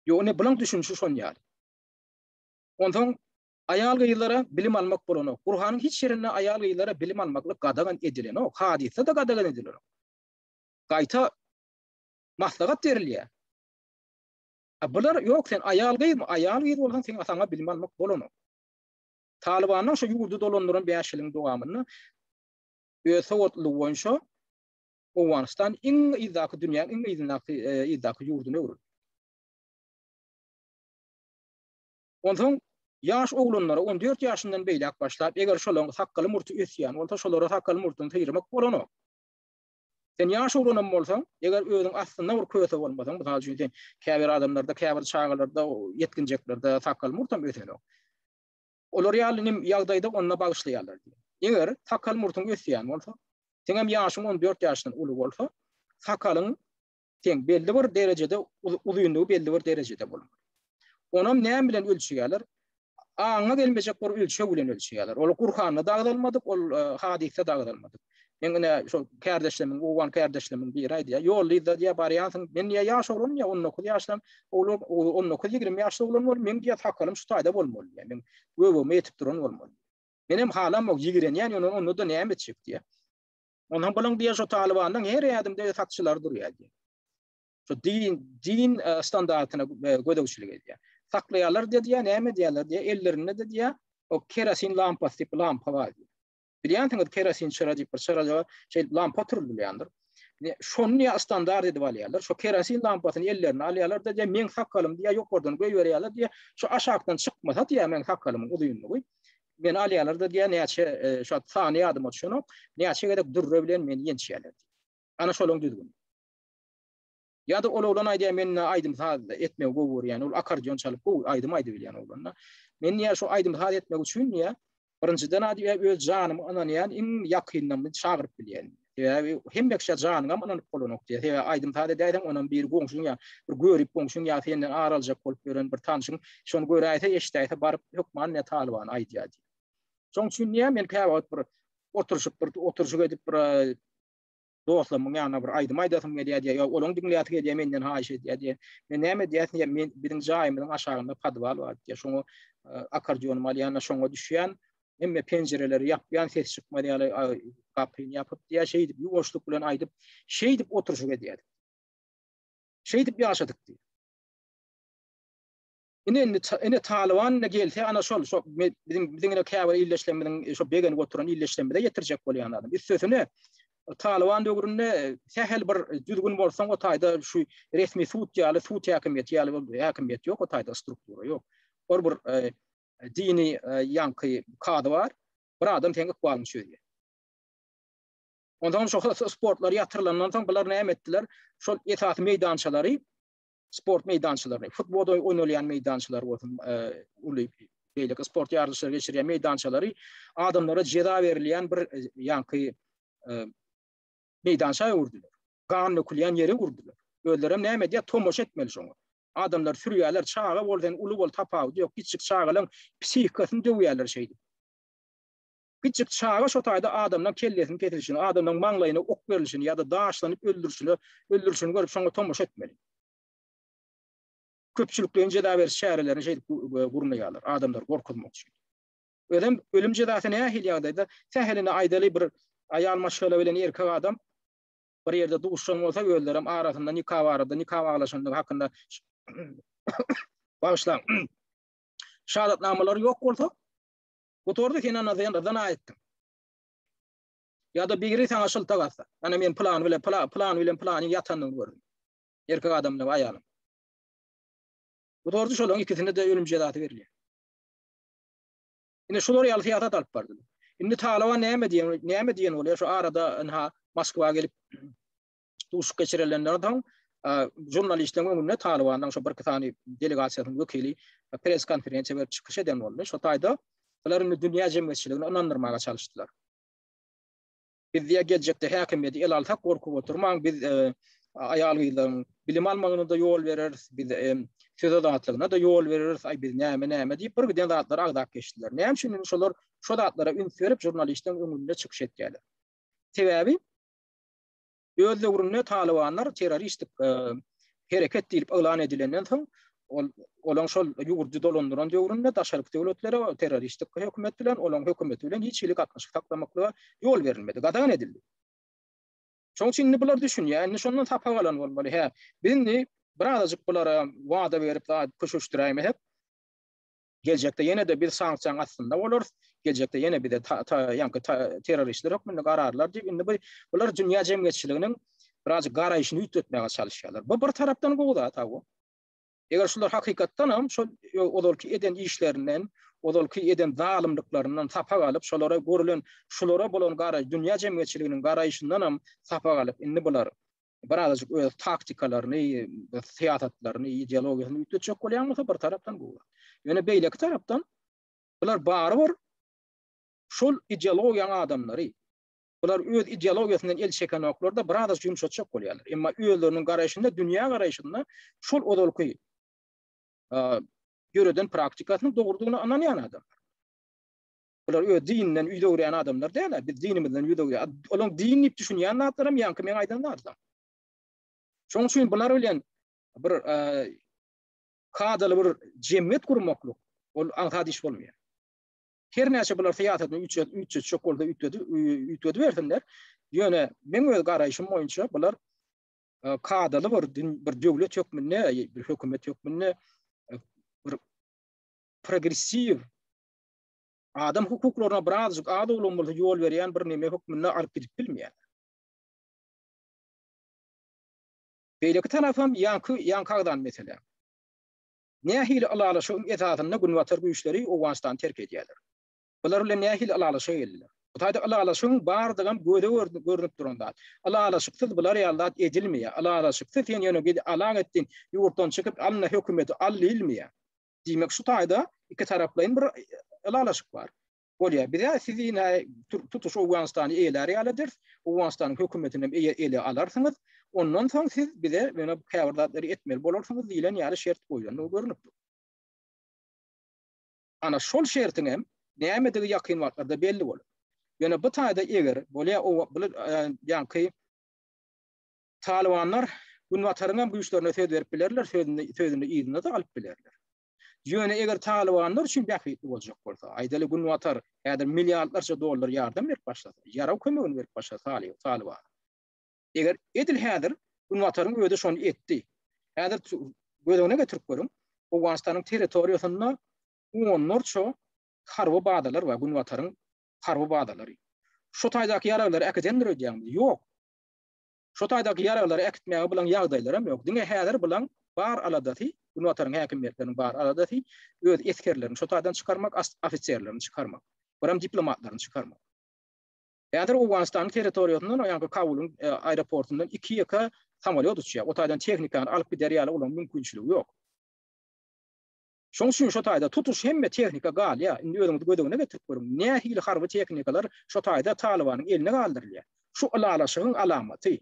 Ýok, ne bulan düşünişi şon ýaly. Ondan aýal gyzlara bilim almak bolanok. Gurhanyň hiç ýerinde aýal gyzlara bilim almaklyk gadagan edilenok. Hadysda da gadagan edilenok. Gaýta maslahat berilýär. A bular, ýok sen aýal-gyzmy, aýal-gyz bolsaň seň ataňa bilim almak bolanok. Talybanlaň şu ýurdy dolandyran bäş ýylyň dowamynda öz sowatlylygy boýunça Owganystan iň yzdaky dünýäň iň yzyndaky yzdaky ýurdyna öwrüldi. Onsoň ýaş oglanlara on dört ýaşyndan beýläk başlap, eger şolaň sakgaly-murty ösýän bolsa, şolara sakgaly-murtuny syýyrmak bolanok. Sen ýaş oglanam bolsaň, eger özüň aslynda bir köse bolmasaň, mysal üçin sen käbir adamlarda, käbir çagalarda, ýetginjeklerde sakgal murtam ösenok. Olar ýaly nim ýagdaýda onda bagyşlaýarlar. Eger sakgal murtuň ösýän bolsa, seňem ýaşyň on dört ýaşdan uly bolsa, sakalyň teň belli bir derejede uzynlygy belli bir derejede bolmaly. Onam näme bilen ölçeýärler? Aňa gelmejek bir ölçeg bilen ölçeýärler. Ol Gurhanda da agzalmadyk, ol e, hadysda da agzalmadyk. Men ine şol kardeşlerimin, owan kardeşlerimin biri aýdýar. Ýol diýdi, diýär, barýansyň. Men diýär, ýaş oglan diýär, 19 ýaşdan, oglan 19-20 ýaşda oglan bol, men diýär, sakalym şu taýda bolmaly diýär. Men göwüme ýetip duran bolmaly. Men hem halam ýok, ýigrenýän, ýöne onda da näme etjek diýär. Ondan bolan diýen şu Talibanyň her ýadymda satyşylar durýar diýen. Şu din, din e, standartyna e, gözegçilik edýär. Saklaýarlar diýýär, näme diýýärler diýýär, ellerinde diýýär, o kerosin lampasy diýip lampa bar diýýär. Bilýänsiňiz kerosin çyra diýip bir çyra ýa şeýle lampa turulýandyr. Ne şonu ýa standart edip alýarlar. Şu kerosin lampasyny ellerine alýarlar da diýýär, meň sakalym diýýär, ýokardan göýberýärler diýýär. Şu aşakdan çykmasa diýýär, meň sakalymyň uzynlygy. Meni alýarlar-da diýýär, näçe, şu sany ýadyma düşenok, näçe gezek dürre bilen meni ýençýärler diýýär. Ana şolaň düzgüni. Ýa-da ol oglan aýdýar, men-ä aýdym-saz etmegi gowy görýän, ol akkordeon çalyp gowy aýdym aýdybilýän oglan-da. Men diýýär, şu aýdym-saz etmek üçin diýýär, birinjiden-ä diýýär, öz janyma ynanýan iň ýakynymyzy çagyryp bilýän diýýär. Sebäbi hemme kişä janyňam ynanyp bolanok diýýär. Sebäbi aýdym-saz edäýseň, onam bir goňşyň ýa bir görip goňşyň ýa senden ar aljak bolup ýören bir tanşyň şony göräýse, eşidäýse baryp hökman ne Talybany aýdýar diýýär. Şoň üçin diýýär, men käwagt bir oturyşyp bir oturyşyk edip bir dostlarymyň ýanyna bir aýdym aýdasym gelýär diýýär. Ýa olaň diňläsi gelýär menden haýyş edýär diýýär. Men näme diýýär diýýär, men biziň jaýymyzyň aşagynda podwal bar diýýär. Şoňa akkordeonymy alýan, şoňa düşýän. Hemme penjireleri ýapýan ses çykmaz ýaly gapyny ýapyp diýýär, şeýdip ýuwaşlyk bilen aýdyp, şeýdip oturyşyk edýärdik. Şeýdip ýaşadyk diýýär. Ine indi ene Talyban indi gelse ana şol şo biziň biziň ine käbir illeşlerimiziň e, şo begenip oturan illeşlerimize ýetirjek bolýan adam. Üstesine e, Talyban döwründe e, sähel bir düzgün bolsaň o taýda şu resmi sud ýaly sud häkimiýeti ýaly bir häkimiýet ýok o taýda struktura ýok. Ol bir Dini ýaňky kady bar. Bir adam seň ykbalyňy çözýär. Ondan soň sportlar ýatyrylandan soň bular näme etdiler? Şol esasy meýdançalary sport meýdançalaryny, futbol oýnalýan meýdançalar bolsun, uly beýleki sport ýaryşlary geçirýän meýdançalary adamlara jeza berilýän bir ýaňky meýdança öwürdiler. Gan dökülýän ýere urdular. Özlerem näme edýär, tomaşa etmeli şoňa. Adamlary sürýärler, çaga bol sen, uly bol tapawudy ýok, kiçijik çagalaň psihikasyny döwýärler şeýdip. Kiçijik çaga şo taýda adamlaň kellesini kesilişini, adamlaň maňlaýyna ok berilişini ýa-da daşlanyp öldürişini, öldürişini görüp şoňa tomaşa etmeli. Köpçülikleýin jeza beriş çärelerini şeýdip gurnaýarlar, adamlary gorkuzmak üçin. Özem ölüm jezasy nähili ýagdaýda, sähelini aýdaly bir aýal maşgala bilen erkek adam bir ýerde duşan bolsa özlerem arasynda nika barada nika baglaşandygy hakynda bagyşlaň şadatnamalary ýok bolsa gutardy sen ana sen zina etdiň ýa-da biri sana şyltak atsa ana men plan bilen plan plan bilen planyň ýatanyny gördüm erkek adam bilen aýalyň gutardy şolaryň ikisine de ölüm jezasy berilýär Indi şular ýaly syýasat alyp bardylar. Indi Talyban näme diýen, näme diýen bolýar şu arada ynha Moskwa gelip duşuk geçirilenden soň žurnalistleriň öňünde Talybanyň şu birki sany delegasiýasynyň wekili press konferensiýa berip çykyş eden boldy. Şu taýda bular indi dünýä jemgyýetçiligini ynandyrmaga çalyşdylar. Biz diýýär, geljekde häkimiýeti ele alsak, gorkup oturmaň, biz aýal-gyzlaryň bilim almagyna-da ýol bereris, biz söz azatlygyna-da ýol bereris, aý, biz näme-näme diýip, birgiden zatlary agzap geçdiler. Näme üçin indi şolar şo zatlara üns berip, žurnalistiň öňünde çykyş etýärler? Sebäbi öz döwründe talybanlar terroristik hereket diýlip yglan edilenden soň, ol olaň şol ýurdy dolandyran döwründe daşarky döwletlere terroristik hökümet bilen, olaň hökümeti bilen hiç hili gatnaşyk saklamaklyga ýol berilmedi, gadagan edildi. Şonuň üçin indi bular düşünýär, indi şondan sapak alan bolmaly. Hä, biz indi birazajyk bulara wada berip, köşeşdiräýmesek, Geljekde ýene-de biz sanksiýaň astynda bolarys, geljekde ýene bize ýaňky terroristler hökmünde gararlar diýip, indi bu bular dünýä jemgyýetçiliginiň birazajyk garaýşyny üýtgetmäge çalyşýarlar. Bu bir tarapdan gowy zat ha bu. Eger şular hakykatdan hem şol ozalky eden işlerinden, ozalky eden zalymlyklaryndan sapak alyp, şolara görülen, şulara bolan garaýyş, dünýä jemgyýetçiliginiň garaýşyndan hem sapak alyp, indi bular bir azajyk öz taktikalaryny, syýasatlaryny, ideologiýasyny üýtgetjek bolýan bolsa bir tarapdan bu. Ýöne beýleki tarapdan bular barybir şol ideologiýaň adamlary. Bular öz ideologiýasyndan el çekenoklarda bir azajyk ýumşatjak bolýarlar. Emma özleriniň garaýşynda, dünýä garaýşynda şol ozalky ýöreden praktikasynyň dogrudygyna ynanýan adamlar. Bular öz dininden ýüz öwürýän adamlar däl-ä. Biz dinimizden ýüz öwürýäs. Olaň din diýip düşünýän zatlaram ýaňky meň aýdan zatlaram. Şonuň üçin bular bilen bir kadaly bir jemgyýet gurmaklyk ol aňsat iş bolmaýar. Her näçe bular syýasatyny üçe üçe çök bolsa üýtgedi üýtgedi bersinler. Ýöne meň öz garaýşym boýunça bular e, kadaly bir bir döwlet hökmünde, bir hökümet hökmünde e, bir progressiw adam hukuklaryna birazjyk az-owlagym bolsa ýol berýän bir neme hökmünde alyp gidip bilmeýär. Beýleki tarapam ýaňky ýaňky agzan mesele. Nähili ylalaşygyň esasynda günbatar güýçleri Owganystany terk edýärler? Bular bilen nähili ylalaşyga geldiler? Bu taýda ylalaşygyň bardygam göze görnüp duran zat. Ylalaşyksyz bular ýaly zat edilmeýär. Ylalaşyksyz sen ýöne git alag etdiň, ýurtdan çykyp alna hökümeti al diýilmeýär. Diýmek, şu taýda ikitaraplaýyn bir ylalaşyk bar. Bolýar. Biz ýa sizi ine tutuş Owganystany eýelär ýaly ederis, Owganystanyň hökümetini hem ele alarsyňyz, ondan soň siz bize ýöne käbir zatlary etmeli bolarsyňyz diýlen ýaly şert goýlandygy görnüp dur. Ana şol şertiň hem nämedigi ýakyn wagtlarda belli bolar. Ýöne bu taýda eger bolýar, bular ýaňky Talybanlar Günbataryň hem güýçlerine söz berip bilerler, sözüni sözüni yzyna-da alyp bilerler. Ýöne eger Talybanlar üçin bähbitli boljak bolsa, aýdaly Günbatar häzir milliardlarça dollar ýardam berip başlasa, ýarag kömegini berip başlasa Taly Talybana. Eger edil häzir Günbataryň özi şony etdi. Häzir tu- göz öňüne getirip görüň, Owganystanyň territoriýasynda onlarça harby bazalar bar, Günbataryň harby bazalary. Şu taýdaky ýaraglary äkidendir öýdýäňmi? Ýok. Şo taýda gyýaraglary äkitmäge bulan ýagdaýlaram ýok. Diňe häzir bulan bar aladasy, Günbataryň häkimiýetleriniň bar aladasy öz esgerlerini şo taýdan çykarmak, ofiserlerini çykarmak. Biram diplomatlaryny çykarmak. Häzir Owganystanyň territoriýasyndan, o ýanky Kabulyň aeroportyndan iki-ýeke samolýot uçýar. O taýdan tehnikany alyp gider ýaly olaryň mümkinçiligi ýok. Şoň üçin şo taýda tutuş hemme tehnika galýar. Indi özüňiz göz öňüne getirip görüň, nähili harby tehnikalar şo taýda Talybanyň eline galdyrylýar. Şu ylalaşygyň alamaty.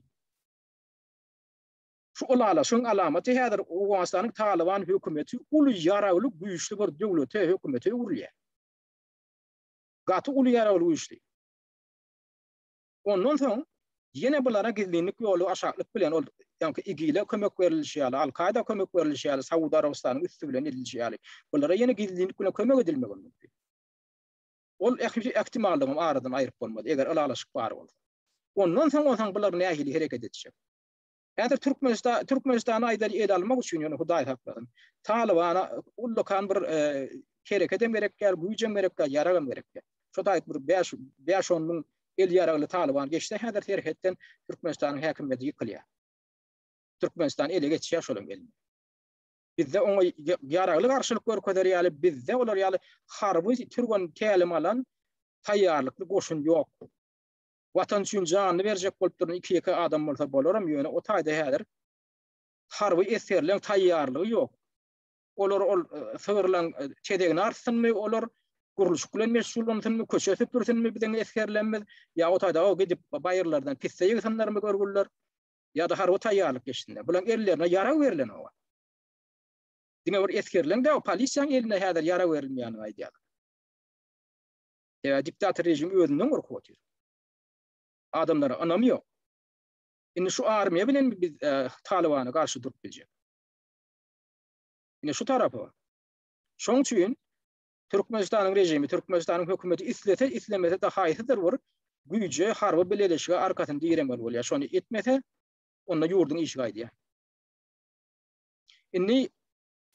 Şu ylalaşygyň alamaty häzir Owganystanyň Talyban hökümeti uly ýaragly güýçli bir döwlete, hökümete öwrülýär. Gaty uly ýaragly güýçli. Ondan soň ýene bulara gizlinlik ýoly aşaklyk bilen ol ýaňky IGIL-e kömek berilişi ýaly, Al-Kaýda kömek berilişi ýaly Saud Arabystanyň üsti bilen edilişi ýaly bulara ýene gizlinlik bilen kömek edilmegem mümkin. Ol ähli ähtimallygam aradan aýryp bolmaz, eger ylalaşyk bar bolsa. Ondan soň bolsaň bular nähili hereket etjek? Häzir Türkmenistan Türkmenistana aýdaly ele almak üçin ýöne Hudaý saklasyn. Talybana ullakan bir e, herekedem gerek däl, güýjem gerek däl, ýaragam gerek däl. Şu taýt bir 5 5-10 müň el ýaragly Talyban geçse häzir serhetden Türkmenistanyň häkimiýeti ýykylýar. Türkmenistan ele geçýär şolam gelin. Bizde oňa ýaragly garşylyk görkezer ýaly, bizde olar ýaly harby türgen tälim alan taýýarlykly goşun ýok. Watan üçin janyny berjek bolup duran iki-ýeke adam bolsa bolaram, ýöne o taýda häzir harby esgerleň taýýarlygy ýok. Olar ol sygyrlaň tezegini artsynmy, olar gurluşyk bilen meşgullansynmy, köçe süpürsinmi biziň esgerlerimiz, ýa o taýda o gidip baýyrlardan pisse ýygsynlarmy görgüliler, ýa-da harby taýýarlyk geçsinler. Bularyň ellerine ýarag berlen oňa. Diňe bir esgerleň däl, polisiýanyň eline häzir ýarag berilmeýänini aýdýarlar. Sebäbi diktator režimi özünden gorkup otyr. Adamlara ynamy ýok. Indi şu armiýa bilenmi biz Talybana garşy durup biljek? Ine şu tarapy bar. Şoň üçin Türkmenistanyň režimi, Türkmenistanyň hökümeti islese, islemese de haýsydyr bir güýje, harby bileleşige arkasyny diremeli bolýar. Şony etmese, onda ýurduň işi gaýdýar. Indi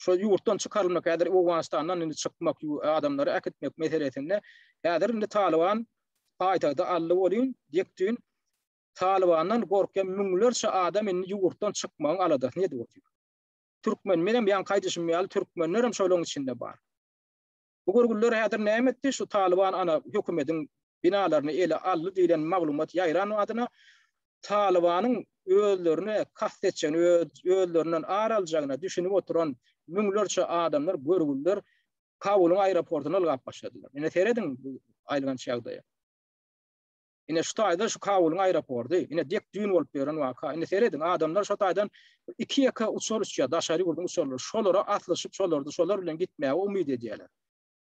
Şo ýurtdan çykarylmak, häzir Owganystandan indi çykmak, adamlary äkitmek meselesinde häzir indi Talyban paýtagty aldy welin, ýek-düýn Talybandan gorkýan müňlerçe adam indi ýurtdan çykmagyň aladasyny edip otyr. Türkmen, menem ýaňky aýdyşym ýaly, türkmenlerem şolaryň içinde bar. Bu görgüliler häzir näme etdi? Şu Talyban ana hökümediň binalaryny ele aldy diýlen maglumat ýaýran badyna Talybanyň özlerine kast etjegini, özlerinden ar aljagyna düşünip oturan müňlerçe adamlar, görgüliler Kabulyň aeroportuna ylgap başladylar. Ine serediň bu aýylganç ýagdaýa. Ine şu taýda şu Kabulyň aeroporty, ine dek düýn bolup beren waka. Ine serediň, adamlar şu taýdan iki ýeke uçar uçýar, daşary ýurduň uçarlary. Şolara aslyşyp, şolarda şolar bilen gitmäge umyt edýärler.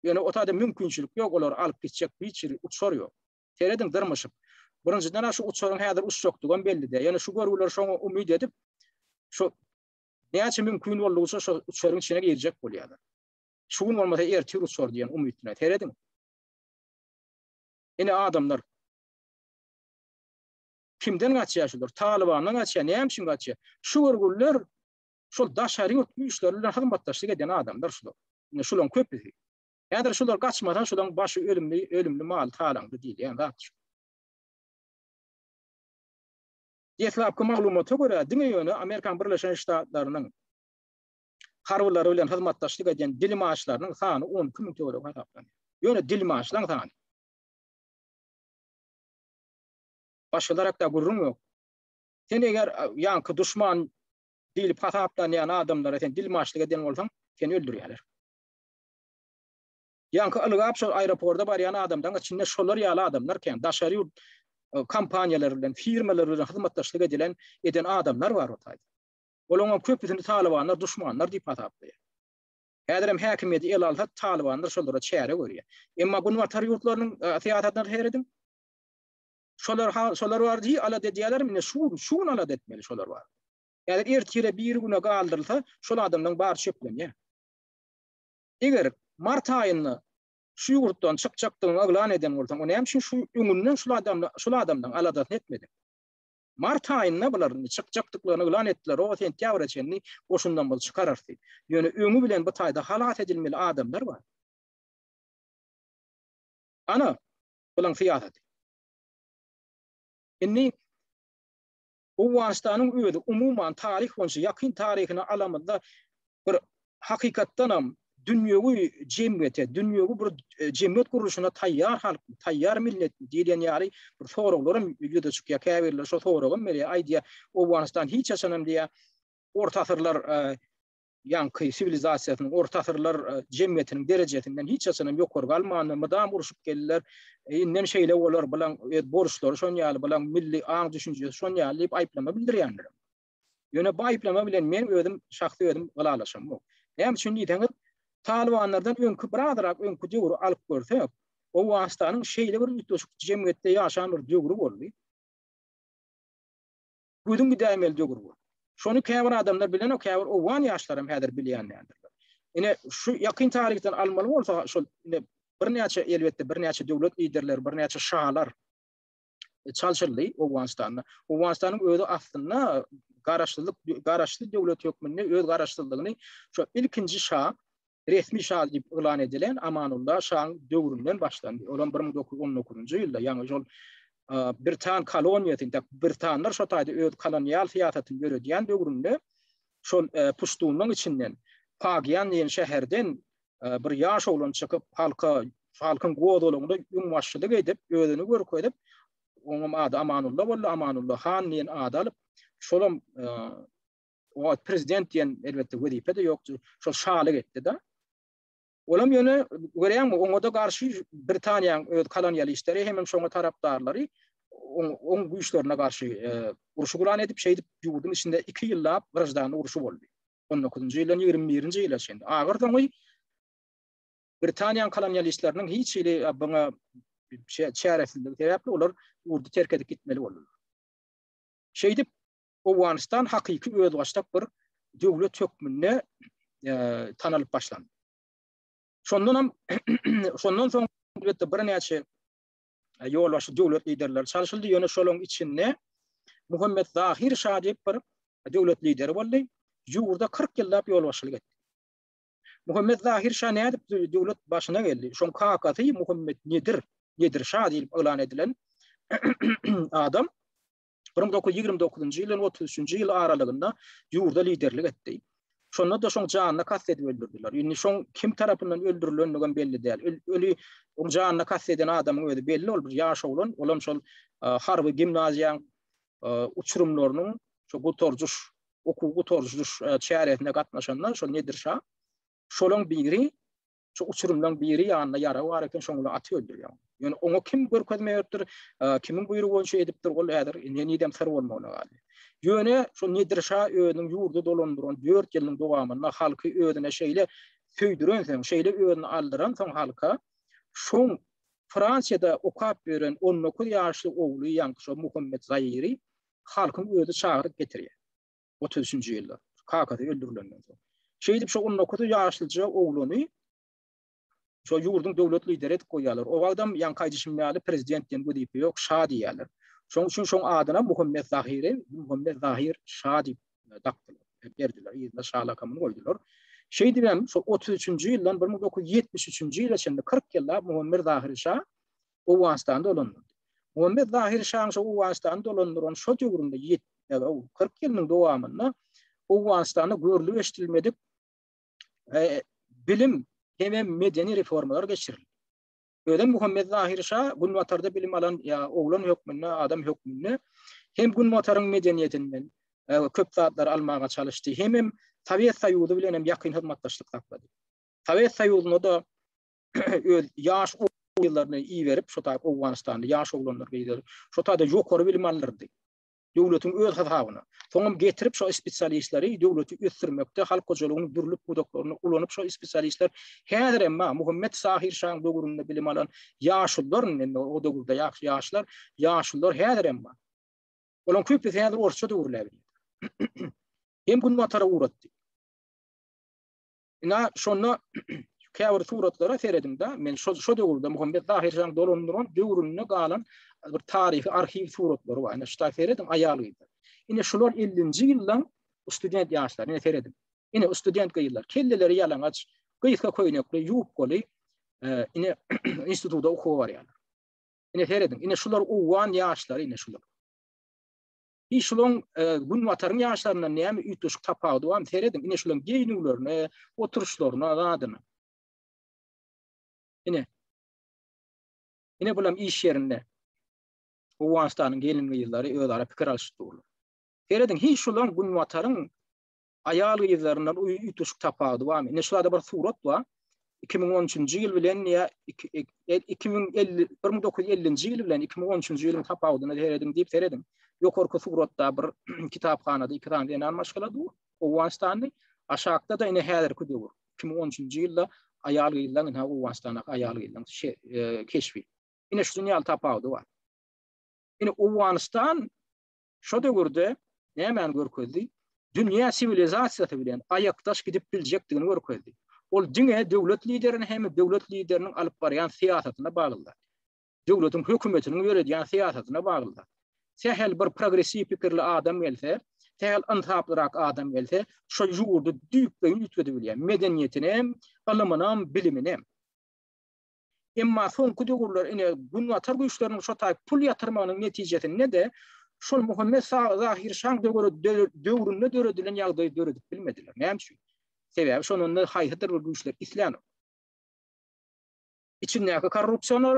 Ýöne o taýda mümkinçilik ýok, olary alyp gitjek hiç bir uçar ýok. Serediň dyrmyşyp. Birinjiden şu uçaryň häzir uçjakdygy hem belli däl. Ýöne şu görgüler şoňa umyt edip, şu näçe mümkin boldugyça şu uçaryň içine girjek bolýarlar. Şu gün bolmasa ertir uçar diýen umyt bilen. Serediň. Ine adamlar. Kimden gaçýar şular? Talybandan gaçýar, näme üçin gaçýar? Şu görgüliler şol daşary ýurt güýçleri bilen hyzmatdaşlyk eden adamlar şular. Ine şularyň köpüsi. Häzir şular gaçmasa şularyň başy ölümli, ölümli mal talaňdy diýilýän zat şu. Deslapky maglumata görä, diňe ýöne Amerikan Birleşen Ştatlarynyň harbylary bilen hyzmatdaşlyk edýän dilmaçlarynyň sany 12 müň töweregi hasaplanýar. Ýöne dilmaçlaryň sany. Başgalar hakda gürrüň ýok. Sen eger ýaňky duşman diýlip hasaplanýan adamlara sen dilmaçlyk eden bolsaň, seni öldürýärler. Ýaňky ylgap şol aeroporta barýan adamdan içinde şolar ýaly adamlar kän. Daşary ýurt e, kompaniýalary bilen, firmalary bilen hyzmatdaşlyk edilen eden adamlar bar o taýda. Olaňam köpüsini talybanlar duşmanlar diýip hasaplaýar. Häzirem häkimiýeti ele alsa, talybanlar şolara çäre görýär. Emma Günbatar ýurtlarynyň e, syýasatyna seredin. Şolar şolar bar diýip alat edýärler, indi şu şu gün alat etmeli şolar bar. Häzir ertire bir güne galdyrylsa, şol adamlaryň bary çöklenýär. Eger mart aýynda şu ýurtdan çykjakdygyny yglan eden bolsaň, o näme üçin şu öňünden şu adamla şu adamdan aladasyny etmediň? Mart aýynda bular çykjakdyklaryny yglan etdiler, o sentýabra çenli goşundan biz çykararys diýip. Ýöne öňi bilen bu taýda halas edilmeli adamlar bar. Ana, bulaň syýasaty. Indi Owganystanyň özi umuman taryh boýunça ýakyn taryhyny alamyzda bir hakykatdanam dünýewi jemgyýete, dünýewi bir e, jemgyýet gurluşyna taýýar halk, taýýar millet diýilýän ýaly bir soraglar hem ýüze çykýar. Käbirler şo soragy hem berýär. Aýdýar, Owganystan hiç haçan hem diýýär, orta asyrlar e, ýaňky siwilizasiýasynyň orta asyrlar e, jemgyýetiniň derejesinden hiç haçan hem ýokary galmandy. Mydam uruşyp geldiler. E, inden şeýle bolar, bilen e, borçlary şon ýaly, bilen milli aň düşünjesi şon ýaly diýip aýyplama bildirýänler. Ýöne bu aýyplama bilen men özüm şahsy özüm ylalaşamok. Näme üçin diýseňiz, Talybanlardan öňki bir azyrak öňki döwri alyp görsek, Owganystanyň şeýle bir üýtgeşik jemgyýetde ýaşan bir döwri boldy. Gözüň gidäýmeli döwür boldy. Şony käbir adamlar bilenok, käbir owgan ýaşlaram häzir bilýän däldirler. Ine şu ýakyn taryhdan almaly bolsa, şol ine birnäçe elbetde birnäçe döwlet liderleri, birnäçe şalar, e, çalşyryldy Owganystanda. Owganystanyň özi aslynda garaşsyzlyk garaşsyz döwlet hökmünde öz garaşsyzlygyny şu ilkinji şa resmi şa diýip yglan edilen Amanullah şaň döwründen başlandy. Ol 1919-njy ýylda, ýagny şol Britan koloniýasy, ýa Britanlar şo taýda öz kolonial syýasatyny ýöredýän döwründe şol e, puştunyň içinden Pagian diýen şäherden bir ýaş oglan çykyp, halka, halkyň gozgalaňynda öňbaşçylyk edip, özüni görkezip, onuň ady Amanulla boldy, Amanulla han diýen ady alyp, şolam e, o prezident diýen elbetde wezipe de ýokdy, şol şalyk etdi-de. Olam ýöne görýäňmi, oňa da garşy Britaniýanyň öz kolonialistleri hem şoňa tarapdarlary oň güýçlerine garşy e, urşy guran edip, şeýdip ýurduň içinde 2 ýyllap grajdanlyk urşy boldy. on dokuzynjy ýyldan ýigrimi birinji ýyla çenli. Agyr soňy Britaniýanyň kolonialistleriniň hiç hili buňa çäresizligi sebäpli olar ýurdy terk edip gitmeli boldular. Şeýdip, Owganystan hakyky özbaşdak bir döwlet hökmünde e, tanalyp başlandy. Şondan hem şondan soň elbetde birnäçe ýolbaşçy döwlet liderleri çalşyldy, ýöne şolaryň içinde Muhammet Zahir şa diýip bir döwlet lideri boldy, ýurda 40 ýyllap ýolbaşçylyk etdi. Muhammet Zahir şa nädip döwlet başyna geldi? Şoň kakasy Muhammet Nedir, Nedir şa diýip yglan edilen adam bir müň dokuz ýüz ýigrimi dokuzynjy ýyl bilen otuz üçünji ýyl aralygynda ýurda liderlik etdi. Şonda-da şoň janyna kast edip öldürdiler. Indi şoň kim tarapyndan öldürilendigem belli däl. Öli oň janyna kast eden adamyň özi belli, ol bir ýaş oglan, olam şol harby gimnaziýaň uçurymlarynyň şu gutarjyş, okuw gutarjyş çäresine gatnaşanda şol Nedir şa şolaň biri Şu uçurymlaň biri ýanynda ýara bar eken, şoňa uly aty öldürýär. Ýöne oňa kim görkezme beripdir, kimiň buýrugy boýunça edipdir, ol häzir henizem syr bolmagyna galýar. Ýöne şu Nedir şa özüniň ýurdy dolandyran dört ýylyň dowamynda halky özüne şeýle söýdürensoň, şeýle özüni aldyransoň halka, şoň Fransiýada okap ýören on dokuz ýaşly ogly ýaňky şo Muhammet Zaýry halkyň özi çagyryp getirýär. otuz üçünji ýylda, kakasy öldürilenden soň. Şeýdip, şo on dokuz ýaşlyja ogluny şo ýurduň döwlet lideri edip goýýarlar. O wagtam ýaňky aýdyşym ýaly prezident diýen wezipe ýok, şa diýýärler. Şoň üçin şoň adyna Muhammet Zahiri, Muhammet Zahir şa diýip e, dakdylar, e, berdiler, ýerine şa lakamyny goýdular. Şeýdip hem şo 33-nji ýyldan 1973-nji ýyla çenli 40 ýyllap Muhammet Zahir şa Owganystany dolandyrdy. Muhammet Zahiri şaň şo Owganystany dolandyran şo döwründe ýet, ýa-da kyrk ýylynyň dowamynda Owganystanda görlüp-eşidilmedik bilim hemem medeni reformalar geçirildi. Özem Muhammet Zahiri şa Günbatarda bilim alan ýa oglan hökmünde, adam hökmünde hem Günbataryň medeniýetinden köp zatlary almaga çalyşdy, hemem Sowet Soýuzy bilen hem ýakyn hyzmatdaşlyk saklady. Sowet Soýuzyna-da öz ýaş ýyllaryny iberip, şu taýda Owganystanly ýaş oglanlar gyzlar, şu taýda ýokary bilim alyrdy. Döwletiň öz hasabyna. Soňam getirip şu spesialistleri döwleti ösdürmekde halk hojalygynyň dürli pudaklaryny ulanyp şu spesialistler häzir hem Muhammet Sahir şaň döwründe bilim alan ýaşlar, indi o döwürde ýaş ýaşlar, ýaşlar häzir hem bar. Olaryň köpüsi häzir orsça döwürläp. Hem günbatara uratdy. Ina şonda käbir suratlara serediňde, men şo şo döwürde Muhammet Zahir jan dolandyran döwründe galan bir taryhy arhiw suratlary bar. Ina şuta serediň aýal gyzlar. Ina şular 50-nji ýyldan student ýaşlar, ina serediň. Ina student gyzlar, kelleleri ýalaňaç, gysga köýnekli, ýubkaly, e, ina institutda okuwa barýarlar. Ina serediň, ina şular owgan ýaşlary, ina şular. Bi şulaň günbataryň ýaşlaryndan näme üýtgeşik tapawudy bar? Serediň, ine şulaň geýnüwlerine, oturyşlaryna, zadyna. Ine. Ine bulam iş ýerinde. Owganystanyň gelin-gyzlary özara pikir alyşyp durlar. Serediň, hiç şulaň günbataryň aýal gyzlaryndan üýtgeşik tapawudy barmy? Ine şurada bir surat bar. 2013-nji ýyl bilen ýa 2050 1950-nji ýyl bilen 2013-nji ýylyň tapawudyna serediň diýip serediň. Ýokarky suratda bir kitaphanada iki sany zenan maşgala dur. Owganystanly aşakda da ine häzirki döwür. 2013-nji ýylda aýal gyzlaryň ine Owganystandaky aýal gyzlaryň şey, e, keşbi. Ine şu dünýä tapawudy bar. Ine Owganystan Şo döwürde nämäni görkezdi? Dünýä siwilizasiýasy bilen aýakdaş gidip biljekdigini görkezdi. Ol diňe döwlet liderini hem döwlet lideriniň alyp barýan syýasatyna baglydy. Döwletiň hökümetiniň ýöredýän syýasatyna baglydy. Sähel bir progressiw pikirli adam gelse, sähel ynsaplyrak adam gelse, şo ýurdy düýpleýin üýtgedibilýär. Medeniýetinem, ylymynam, biliminem. Emma soňky döwürler ine Günbatar güýçleriniň şo taýy pul ýatyrmagynyň netijesinde-de şol Muhammet Zahir şaň döwründe döredilen ýagdaýy döredip bilmediler. Näme üçin? Sebäbi şonda haýsydyr bir güýçler islänok. Içindäki korrupsioner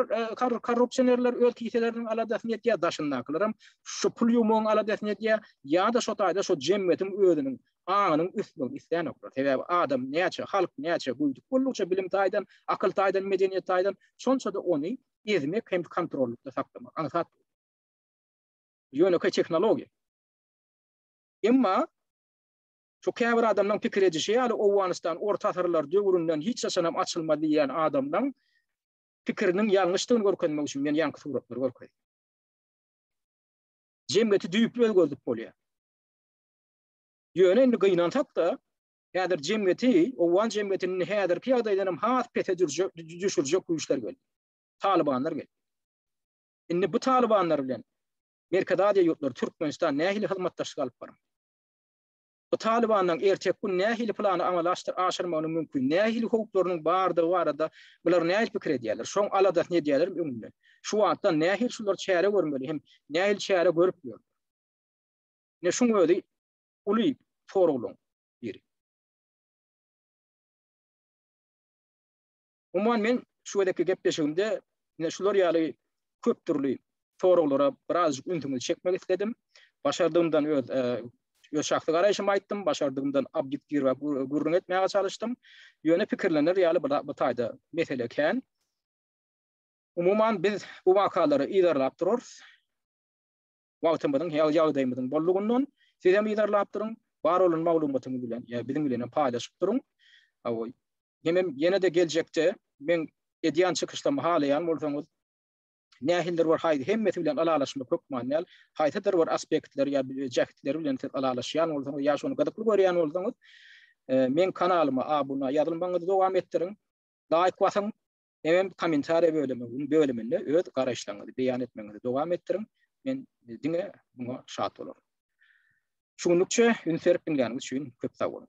korrupsionerler öz kiseleriniň aladasyny etýär, daşyndakylaram şu pul ýumagyň aladasyny edýär ýa-da şo taýda şo jemgyýetiň özüniň aňynyň ösmegini isläýnoklar. Sebäbi adam näçe, halk näçe göýdük boldukça bilim taýdan, akyl taýdan, medeniýet taýdan, şonça-da ony ezmek hem kontrollykda saklamak aňsat däl. Bu ýönekeý tehnologiýa. Emma şu käbir adamlaryň pikir edişi ýaly Owganystan orta asyrlar döwründen hiç haçanam açylmaz diýýän adamlaryň pikiriniň ýalňyşdygyny görkezmek üçin men ýaňky suratlary görkezdim. Jemgyýeti düýpli özgerdip bolýar. Ýöne indi gynansak-da, häzir jemgyýeti, owgan jemgyýetini häzirki ýagdaýdan hem has pese düşürjek güýçler geldi. Talybanlar geldi. Indi bu talybanlar bilen Merkezi Aziýa ýurtlary, Türkmenistan nähili hyzmatdaşlyk alyp barmaly? Bu talybanlaryň erteki gün nähili plany amala aşyrmagynyň mümkin, nähili howplarynyň bardygy barada bular nähili pikir edýärler, şoň aladasyny edýärlermi öňünden? Şu wagtdan nähili şular çäre görmeli hem nähili çäre görüp ýörler? Ine şuň özi uly soraglaryň biri. Umuman men şu gezekki gepleşigimde ine şular ýaly köp dürli soraglara birazjyk ünsüňizi çekmek isledim. Başardygymdan öz e, öz şahsy garaýşymy aýtdym, başardygymdan obýektiw we gürrüň etmäge çalyşdym. Ýöne pikirlenir ýaly bu taýda mesele kän. Umuman biz bu wakalary yzarlap durarys. wagtymyzyň, hal-ýagdaýymyzyň boldugyndan siz hem yzarlap duruň, bar bolan maglumatyňyzy bilen ýa biziň bilen hem paýlaşyp duruň. Hawa, hemem ýene-de geljekde meň edýän çykyşlarymy halaýan bolsaňyz, nähilidir bir haý hemmesi bilen ylalaşmak hökman däl, haýsydyr bir aspektleri ýa jähtleri bilen siz ylalaşýan bolsaňyz ýa şony gyzykly görýän bolsaňyz, meň kanalyma abuna ýazylmagyňyzy dowam etdiriň, laýk basyň, Ebem kommentariýa bölüminiň bölüminde öz garaýyşlaryňyzy beýan etmegiňizi dowam etdiriň. Men diňe muňa şat bolaryn. Şu günlükçe üns berip diňläniňiz üçin köp sag boluň.